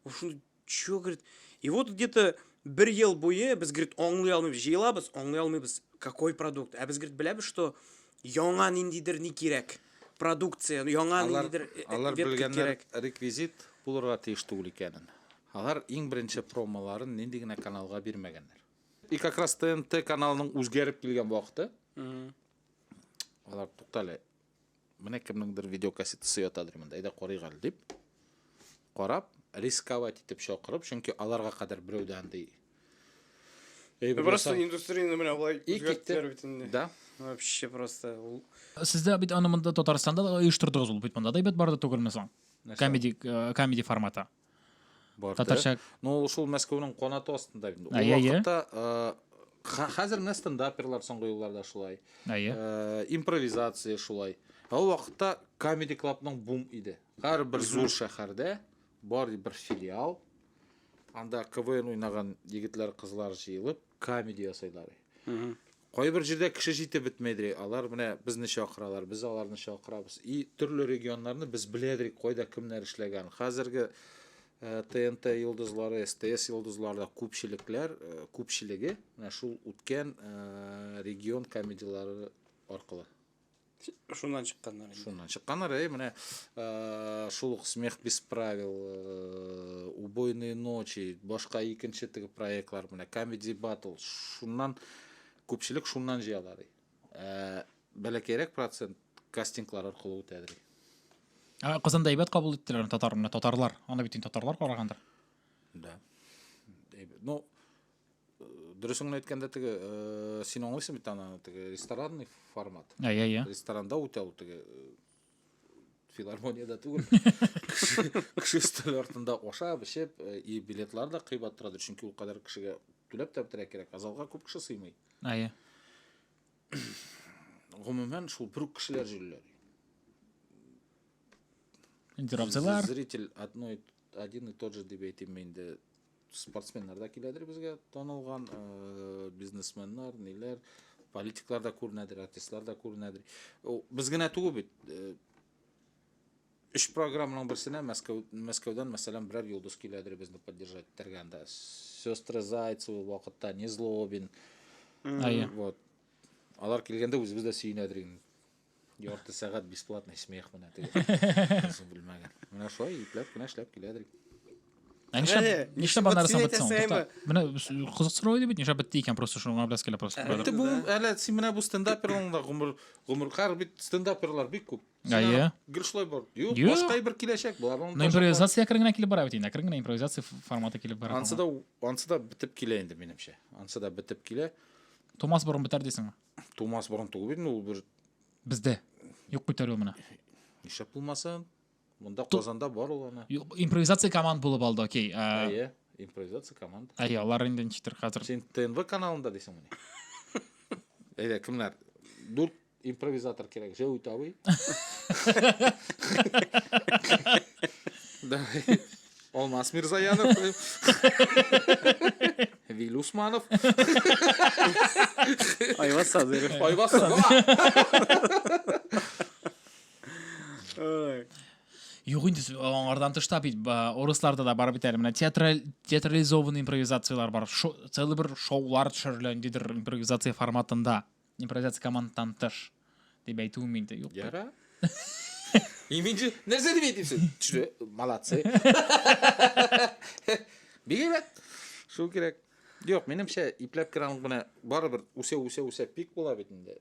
Вот шундый Чё, говорит, и вот где-то бер ел буе без, говорит, аңлый алмыйбыз, җыелабыз, аңлый алмыйбыз, какой продукт. Ә без, говорит, беләбез, что яңа ниндидер ни кирәк. Продукция, яңа Алар, ниндидер э, э, алар ветка белгәннәр кирәк. реквизит булырга тиеш түгел икәнен. Алар иң беренче промоларын нинди генә каналга бирмәгәннәр. И как раз ТНТ каналының үзгәреп килгән вакыты. Алар туктале. Менә кемнеңдер видеокассетасы ятадыр монда, әйдә карыйк әле дип. Карап, рисковать итеп чакырып, чөнки аларга кадәр берәү дә андый әйбер Просто ясау- индустрияне менә болай И, үзгәрттеләр китте. бит инде. Да. Вообще просто ул Сез дә бит аны монда Татарстанда да оештырдыгыз ул бит монда да әйбәт барды түгелме соң? Нәрсә? Комеди, э, комеди форматы. барды. Татарча. Ну, шул Мәскәүнең канаты астында инде. Ул вакытта хәзер менә стендаперлар соңгы елларда шулай. Әйе. Импровизация шулай. Ул вакытта Comedy Club-ның бум иде. Һәр бер зур шәһәрдә бар бер филиал. Анда КВН уйнаган егетләр, кызлар җыелып, камеди ясайлар. Кайбер җирдә кеше җитеп бетмәйдер. Алар менә безне чакыралар, без аларны чакырабыз. И төрле регионнарны без беләдерик, кайда кемнәр эшләгән. Хәзерге ТНТ э, йолдызлары, СТС йолдызларда күпчелекләр, э, күпчелеге менә шул үткән э, регион комедияләре аркылы. Шуннан чыкканнар. Шуннан чыкканнар, әй, менә э, шул ук Смех без правил, э, Убойные ночи, башка икенче теге проектлар менә Comedy Battle. Шуннан күпчелек шуннан җыялар. Э, бәләкәйрәк процент кастинглар аркылы үтәдер. Ә Казанда әйбәт кабул иттеләр татар, менә татарлар. Аны бит инде татарлар карагандыр. Да. Әйбәт. Ну, Дөресен әйткәндә, теге э, син аңлыйсың бит аны, теге ресторанный формат. Ә, я, я. Ресторанда үтә ул теге э, филармониядә түгел. Кеше кеше өстәл артында ашап, эчеп, э, и билетлар да кыйбат торадыр, чөнки ул кадәр кешегә түләп тә бетерә кирәк. Ә залга күп кеше сыймый. Ә, я. Гомумән, шул бер үк кешеләр җөрләр. Интервьюлар. Зритель одной один и тот же дип әйтим инде Спортсменнар да киләдер безгә, танылган э, бизнесменнар, ниләр, политиклар да күренәдер, артистлар да күренәдер. Без генә түгел бит. Э, Үш программаның берсенә Мәскәү, Мәскәүдән, мәсәлән, берәр йолдыз киләдер безне поддержать итәргә анда. Сестры Зайцевы вакытта, Незлобин. Вот. Алар килгәндә үзебез дә сөенәдер инде. Ярты сәгать бесплатный смех менә теге. Кызым белмәгән. Менә шулай ипләп кенә эшләп килә дирек. Ә нишләп Әле, нишләп вот аннары син соң бетте соң? әйтәсең, Тукта, Менә с- кызыксыру иде бит, нишләп бетте икән просто шуңа беләс килә просто. Әле Бетте бу, әле син менә бу стендаперларның да гомер гомер кар бит стендаперлар бик күп. Син Әйе. аны Гел шулай бар. Юк, Юк. башка бер киләчәк бар. Аны Но ташлап импровизация әкрен генә килеп бара бит инде. Әкрен генә импровизация ф- форматы килеп бара. бар. Ансы да ансы да бетеп килә инде минемчә. Ансы да бетеп килә. Томас борын бетәр дисеңме? тумас борын туып инде ул бер бездә юк бит әле ул менә нишләп булмасын монда казанда бар ул ана импровизация команда булып алды окей әйе импровизация команда әйе алар инде ничектер хәзер син тнв каналында дисеңме әйдә кемнәр дүрт импровизатор кирәк җәүит абый Алмас Мирзаянов. Виль Усманов. Айваз Садыров. Айваз Юк инде аңардан тышта бит урысларда да бар бит әле менә театрализованный импровизациялар бар. Целый бер шоулар төшерелә ниндидер импровизация форматында. Импровизация командтан тыш дип әйтүем инде юк. Яра. Иминҗи, нәрсә дип әйтимсез? Төшле, молодцы. Бигрәк шул кирәк. Юк, минемчә ипләп керәм генә барыбер үсә үсә үсә пик була бит инде.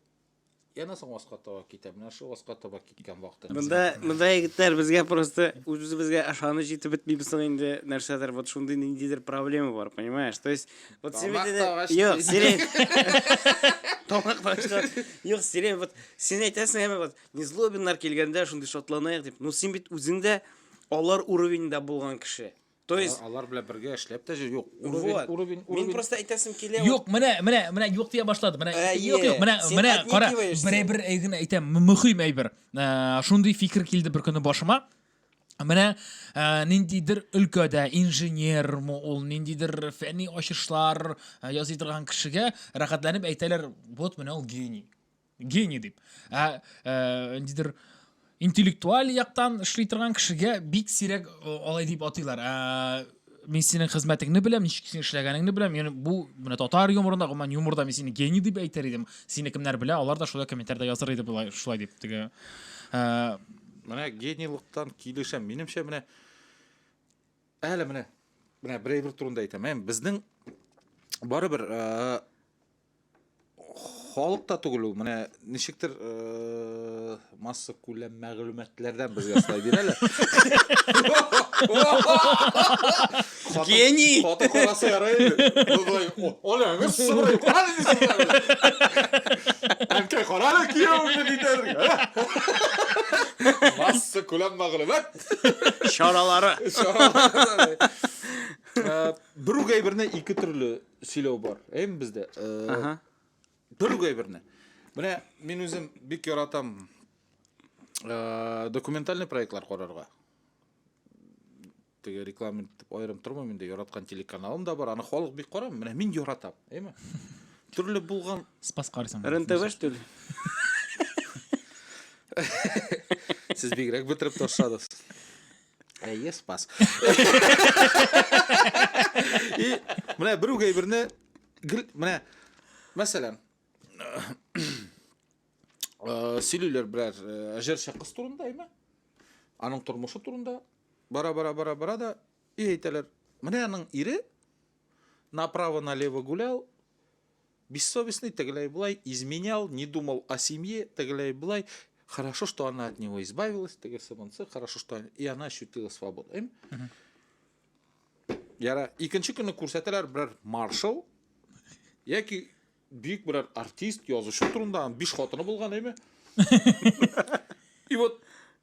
Яна соң аска таба китә. Менә шул аска таба дигән вакытта. Монда монда егетләр безгә просто үзебезгә ышаныч җитеп бетмибез соң инде нәрсәдер вот шундый ниндидер проблема бар, понимаешь? То есть вот син бит инде Юк, сирень. Тамак ташка. Юк, сирень вот син әйтәсең әмма вот незлобиннар килгәндә шундый шатланаек дип. Ну син бит үзең дә алар уровеньда булган кеше. То есть алар белән бергә эшләп тә җир юк. Уровень, уровень, уровень. Мин просто әйтәсем килә. Юк, менә, менә, менә юк дия башлады. Менә э, юк, юк, менә, менә кара. Бере бер әйген әйтәм, мөһим әйбер. Э, шундый фикер килде бер көне башыма. Менә э, ниндидер өлкәдә инженермы ул, ниндидер фәнни ачышлар ясый торган кешегә рәхәтләнеп әйтәләр, вот менә ул гений. гений дип ә, ә, ниндидер интеллектуаль яктан эшли торган кешегә бик сирәк алай дип атыйлар ә, мин синең хезмәтеңне беләм ничек син эшләгәнеңне беләм яни бу менә татар юморында гомумән юморда мин сине гений дип әйтер идем сине кемнәр белә алар да шулай комментарида языр иде болай шулай дип теге ә... менә генийлыктан килешәм минемчә менә әле менә менә берәйбер турында әйтәм ә, безнең барыбер ә, халык та түгел ул менә ничектер э, масса күләм мәгълүматлардан безгә сылай бирә әле гений хатын караса ярый былай оля гыз сорый әнкәй кара әле кияүне дидер масса күләм мәгълүмат чаралары э, бер үк әйберне ике төрле сөйләү бар әйме бездә Ага. төрек әйберне менә мин үзем бик яратам э, документальный проектлар карарга теге реклама итеп аерым тормыйм инде яраткан телеканалым да бар аны халык бик карый менә мин яратам әйме төрле булган Спас карыйсың. РНТВ, что ли? сез бигрәк бетереп ташладыгыз Әйе, спас. И менә бер үк әйберне гел менә мәсәлән э, сөйлиләр берәр э, җырчы кыз турында, әйме? Аның тормышы турында бара бара бара бара да и әйтәләр. Менә аның ире направо налево гулял, Бессовестный тегеләй-болай, изменял, не думал о семье, тегеләй-болай, хорошо, что она от него избавилась, тегесе монсы, хорошо, что она, и она ощутила свободу. Эм? Яра, икенче көнне күрсәтәләр берәр маршал, яки бик берәр артист, язучы турында, биш хатыны булган, әйме? И вот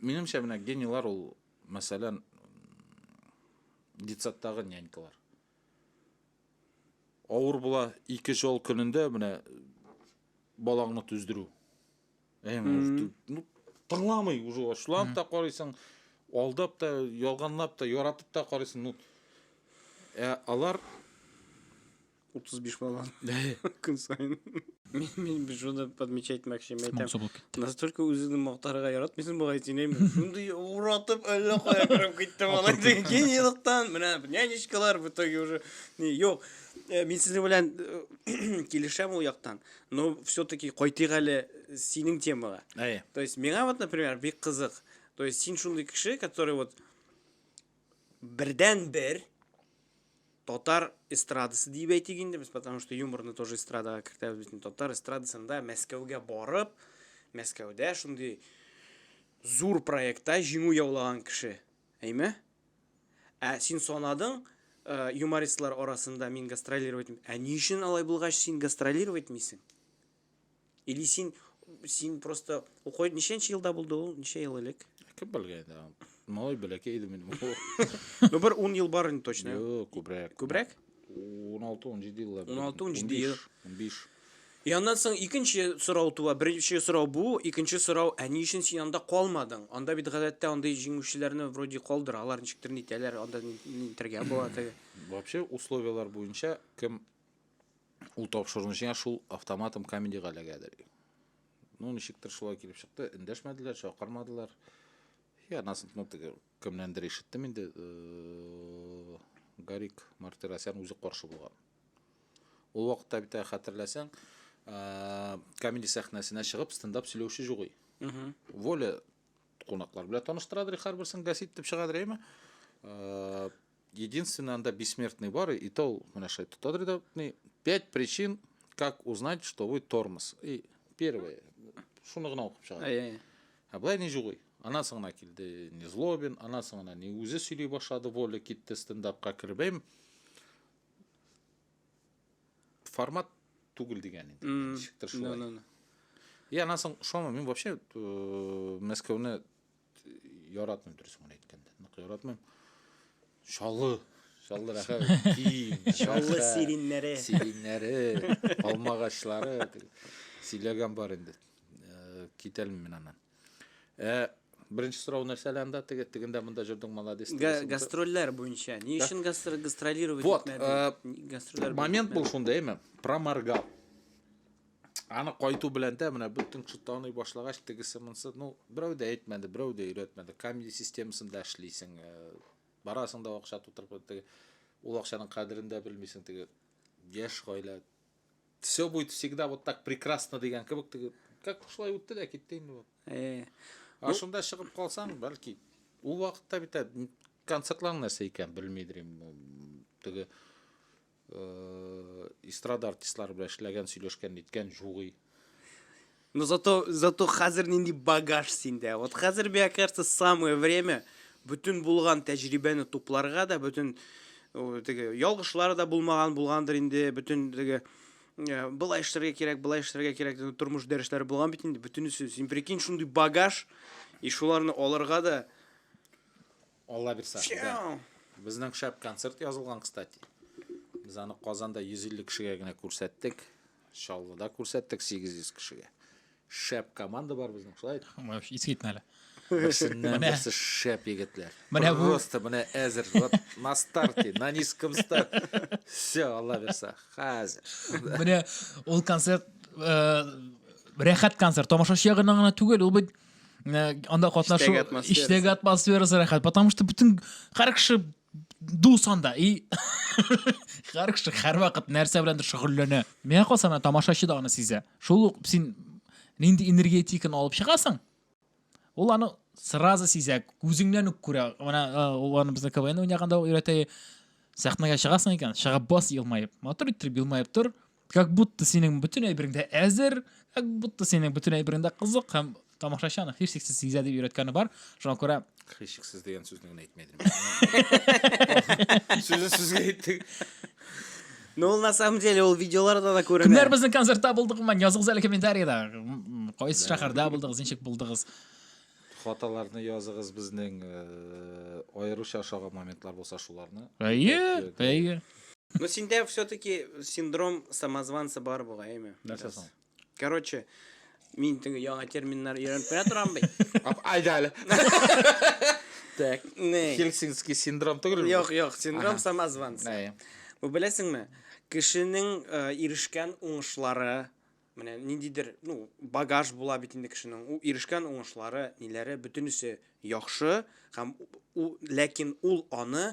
Минемчә, менә генийлар ул, мәсәлән, детсадтагы нянькалар. Авыр була ике жол көнендә менә балаңны түздерү. Ну, тыңламый уже ачуланып та карыйсың, алдап та, ялганлап та, яратып та карыйсың. Ну, ә алар отыз беш бала күн сайын мен шуны подмечать мәкче настолько үзеңне мактарга яратмыйсың бугай син әйме шундый уратып әллә кая кереп китте малай теге генийлыктан менә нянечкалар в итоге уже не юк э, мин сезнең белән э, килешәм ул яктан но все таки кайтыйк әле синең темага то есть миңа вот например бик кызык то есть син шундый кеше который вот бердән бер Татар эстрадасы дип әйтик инде без, потому что юморны тоже эстрадага кертәбез бит. Татар эстрадасында Мәскәүгә барып, Мәскәүдә шундый зур проектта җиңү яулаган кеше. Әйме? Ә син санадың, э, юмористлар арасында мин гастролировать. Ә ни өчен алай булгач син гастролировать мисең? Или син, син просто... Укой, ниченче елда булды ул? Ничә ел элек? Кем белгән инде? Малай бәләкәй иде минем. Ну, бер 10 ел бар инде точно. Юк, күбрәк. Күбрәк? 16-17 еллар. 16-17 ел. 15. И аннан соң икенче сорау туа. Беренче сорау бу, икенче сорау, ә ни өчен син анда калмадың? Анда бит гадәттә андый җиңүчеләрне вроде калдыра, алар ничектер нитәләр, анда нитәргә була теге. Вообще условияләр буенча кем ул тапшыруны җиңә шул автоматом комедига эләгәдер ну ничектер шулай килеп чыкты эндәшмәделәр чакырмадылар я насын ну теге кемнәндер ишеттем инде э, гарик мартиросян үзе каршы булган ул вакытта бит хәтерләсәң э, комеди сәхнәсенә чыгып стендап сөйләүче юк воля кунаклар белән таныштырадыр һәрберсен гасит дип чыгадыр әйме э, Единственный анда бессмертный бар, и то он менә шулай тотадыр да, ни, пять причин, как узнать, что вы тормоз. И первое, шуны гына укып чыгар. Әй, әй. Ә былай ни жугый. Анан соң гына килде Незлобин, анан соң гына ни үзе сөйли башлады, Воля китте стендапка кереп. Әм, Формат түгел дигән инде. М, Ничектер Ну, шулай. ну, ну. И анан соң шома мин вообще э, Мәскәүне Яратмыйм дөресен генә әйткәндә. Нык яратмыйм. Чаллы, Чаллы рәхәт, киң. Чаллы сириннәре. Сириннәре, алмагачлары. Сөйләгән бар инде. Э, китәлме мин аннан? Э, беренче сорау нәрсә әле анда? Теге тегендә монда җөрдең молодец. Гастрольләр буенча. Ни өчен гастролировать итмәдең? Э, Гастрольләр. Момент бул шунда, әйме? Проморгал. Аны кайту белән дә менә бөтен кеше таный башлагач, тегесе монсы, ну, берәү дә әйтмәде, берәү дә өйрәтмәде. Камеди системасында эшлисең, э, барасың да акча тутырып, теге ул акчаның кадерен дә белмисең, теге яшь гаилә. Все будет всегда вот так прекрасно дигән кебек, теге как шулай үтте дә китте инде бу. Э. А шунда чыгып калсаң, бәлки ул вакытта бит концертлар нәрсә икән, белмидер инде. Теге Эстрада артистлары белән эшләгән, сөйләшкән, ниткән, җугый. Но зато, зато хәзер нинди багаж синдә. Вот хәзер, мне кажется, самое время бөтен булган тәҗрибәне тупларга да, бөтен теге ялгышлар да булмаган булгандыр инде, бөтен теге э, былай эшләргә кирәк, былай эшләргә кирәк дигән тормыш дәресләре булган бит инде бөтенесе. Син прикинь, шундый багаж и шуларны алырга да Алла бирсә. Безнең шәп концерт язылган, кстати. Без аны Казанда 150 кешегә генә күрсәттек. Чаллыда күрсәттек 800 кешегә. Шәп команда бар безнең, шулай. Искитмә әле. Берсеннән берсе шәп егетләр. Менә бу просто менә әзер. Вот на старте, на низком старт. Все, Алла бирсә. Хәзер. Менә ул концерт э, рәхәт концерт. Тамашачы ягыннан гына түгел, ул бит анда катнашу иштәге атмосферасы рәхәт потому что бүтін һәр кеше дус анда и һәр кеше һәр вакыт нәрсә беләндер шөгыльләнә миңа калса ана тамашачы да аны сизә шул ук син нинди энергетиканы алып чыгасың ул аны сразу сизә күзеңнән үк күрә ана аны безне квн уйнаганда өйрәтә сәхнәгә чыгасың икән чыгып бас елмаеп матур иттереп елмаеп тор Как будто синең бөтен әйберең дә әзер, как будто синең бөтен әйберең дә кызык һәм тамашачы аны һичшиксез сизә дип өйрәткәне бар. Шуңа күрә Хрещиксыз дигән сүзне генә әйтмәдем. Сүзен сүзгә әйттек. Ну, ул на самом деле ул видеоларда да күренә. Кемнәр безнең концертта булдыгымын, языгыз әле комментариядә. М, м, Кайсы шәһәрдә булдыгыз, ничек булдыгыз? Хаталарны языгыз безнең аеруча ошаган моментлар булса шуларны. Әйе, әйе. Ну синдә все-таки синдром самозванца бар бугаймы? Нәрсә соң? Короче, мин теге яңа терминнар өйрәнеп кенә торам бит. Айда әле. Так, не. Хельсинский синдром түгел. Юк, юк, синдром самозванца. Әйе. Бу беләсеңме? Кешенең ирешкән уңышлары, Менә ниндидер, ну, багаж була бит инде кешенең. У ирешкән уңышлары, ниләре, бөтенесе яхшы, һәм у, ләкин ул аны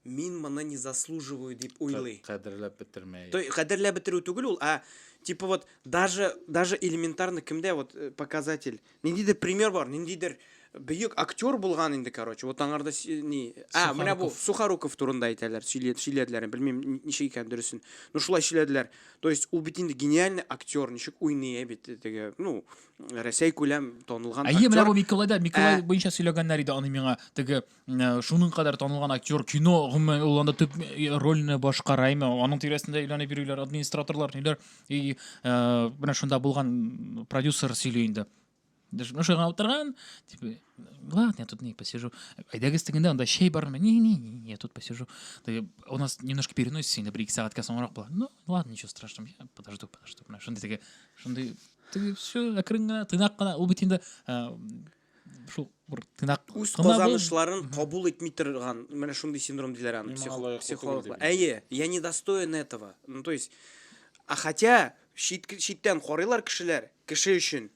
мин моны не заслуживаю дип уйлый. Кадерләп бетермәй. То кадерләп бетерү түгел ул, а типа вот даже даже элементарно кемдә вот э, показатель Ниндидер пример бар, ниндидер бөек актер булган инде, короче. Вот аңарда ни, а, менә бу Сухаруков турында әйтәләр, сөйләделәр, белмим ничек икән дөресен. Ну шулай сөйләделәр. То есть ул бит инде гениальный актер, ничек уйный ә бит теге, ну, Рәсәй күләм танылган актер. Әйе, менә бу Миколайда, Миколай буенча сөйләгәннәр иде аны миңа теге Э, шуның кадәр танылган актер кино гомумән ул анда төп э, рольне башкара име аның тирәсендә әйләнеп йөриләр администраторлар ниләр и э, менә шунда булган продюсер сөйли инде ну шуга утырган типа ладно я тут не посижу әйдәгез тегендә анда чәй бармы не не не я тут посижу у нас немножко переносится инде бер ике сәгатькә соңрак була ну ладно ничего страшного я подожду подожду менә шундый теге шундый теге все әкрен генә тыйнак кына ул бит инде шул бер тыйнак үз казанышларын кабул итми торган менә шундый синдром диләр аны психологлар әйе я не достоин этого ну то есть а хотя чит, читтән карыйлар кешеләр кеше өчен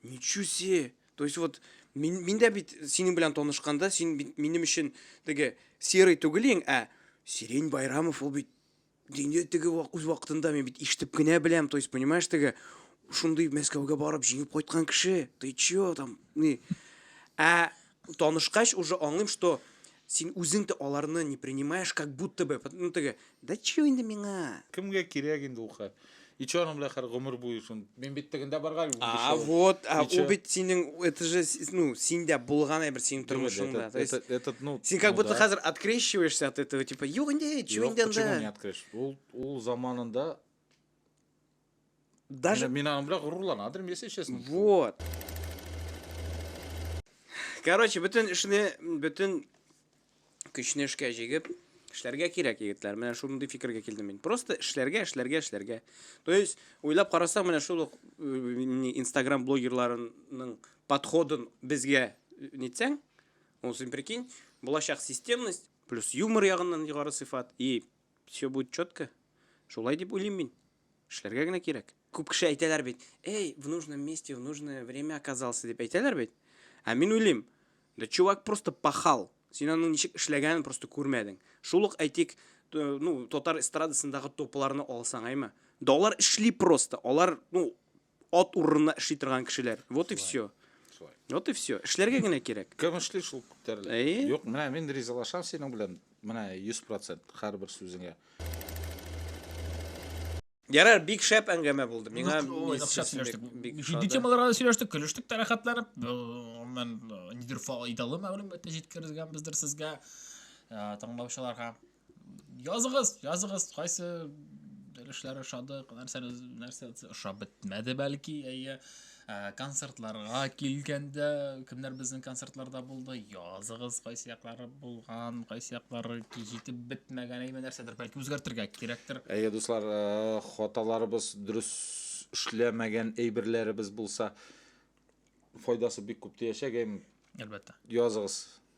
ничего себе то есть вот мин, мин дә бит синең белән танышканда син бит минем өчен теге серый түгел ең ә сирень байрамов ул бит Инде теге үз вакытында мин бит ишетеп кенә беләм, то есть, понимаешь, теге шундый Мәскәүгә барып җиңеп кайткан кеше, ты чё там, не. Ә танышкач уже аңлыйм, что син үзең дә аларны не принимаешь, как будто бы, ну теге, да чё инде миңа? Кемгә кирәк инде ул хәл? И че анам белән хәр гомер буе шун. Мин бит тегендә барга әле унбиш А ел. вот, а И чё? ул бит синең, это же, с- ну, синдә булган әйбер синең Түгел, тормышыңда. этот- То есть, этот- этот, ну, син как ну будто да. хәзер открещиваешься от этого, типа, юк инде, чё Юк, инде почему не анда. открыш? Ул, ул заманында Даже, мин аның белән горурлана адырым, если честно. вот. Короче, бөтен эшне, бөтен Көчне эшкә җигеп, эшләргә кирәк, егетләр. Менә шундый фикергә килдем мин. Просто эшләргә, эшләргә, эшләргә. То есть, уйлап карасаң, менә шул Instagram блогерларының подходын безгә нитсәң, ну, син прикинь, булачак системность, плюс юмор ягыннан югары сыйфат, и все будет четко. Шулай дип уйлыйм мин. Эшләргә генә кирәк. Күп кеше әйтәләр бит, эй, в нужном месте, в нужное время оказался дип әйтәләр бит. Ә мин уйлыйм, да чувак просто пахал. Син аның ничек эшләгәнен просто күрмәдең. Шул ук әйтик, ну, татар эстрадасындагы топларны алсаң, әйме. Да алар эшли просто. Алар, ну, от урынына эшли торган кешеләр. Вот и все. Вот и все. Эшләргә генә кирәк. Кем эшли шул күтәрелә. Әйе. Юк, менә мин ризалашам синең белән. Менә 100% һәрбер сүзеңә. Ярар, бик шәп әңгәмә булды. Миңа җитди темаларга сөйләштек, көлештек тә рәхәтләнеп. Мен нидер файдалы мәгълүматны җиткергәнбездер сезгә, тыңлаучыларга. Языгыз, языгыз, кайсы өлешләре ошады, нәрсә нәрсә ошап бетмәде бәлки, әйе. Ә, Ә, концертларга килгәндә, кемнәр безнең концертларда булды? Языгыз, кайсы яклары булган, кайсы яклары җитеп бетмәгән, әйме нәрсәдер, бәлки үзгәртергә кирәктер. Әйе, дуслар, э, хаталарыбыз, дөрес эшләмәгән әйберләребез булса, файдасы бик күп тиячәк, әйме? Әлбәттә. Языгыз.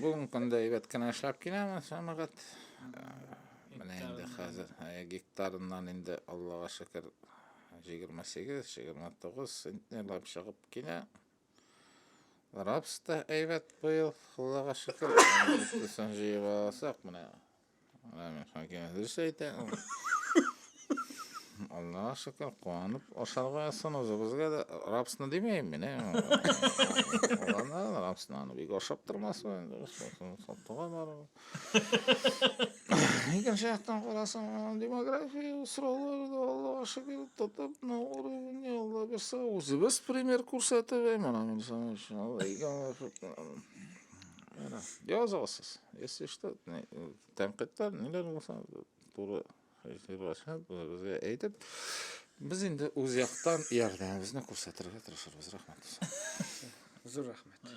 Бүгенге көндә әйбәт кенә эшләп киләмен, сәмәгать. Менә инде хәзер гектарыннан инде Аллага шөкер 28-29 центнерлап чыгып килә. Рапс та әйбәт быел, Аллага шөкер. Төсен җыеп алсак, менә Аллаһ шөкер, куанып ашарга язсын, үзебезгә дә рапсны димәйм мин. Аллаһна рапсны аны бик ашап тормасмы инде, сатуга барып. Икенче яктан карасаң, демография сроклары да Аллаһ шөкер тотып, на уровне Алла берсе үзебез пример күрсәтеп, мына мин сәнгать, Аллаһ икән. Әнә, язасыз. Если что, не- э, тәнкыйтьләр, ниләр булса, туры фикерләшеп, безгә әйтеп, без инде үз яктан ярдәмебезне күрсәтергә тырышырбыз. Рәхмәт. Зур рәхмәт.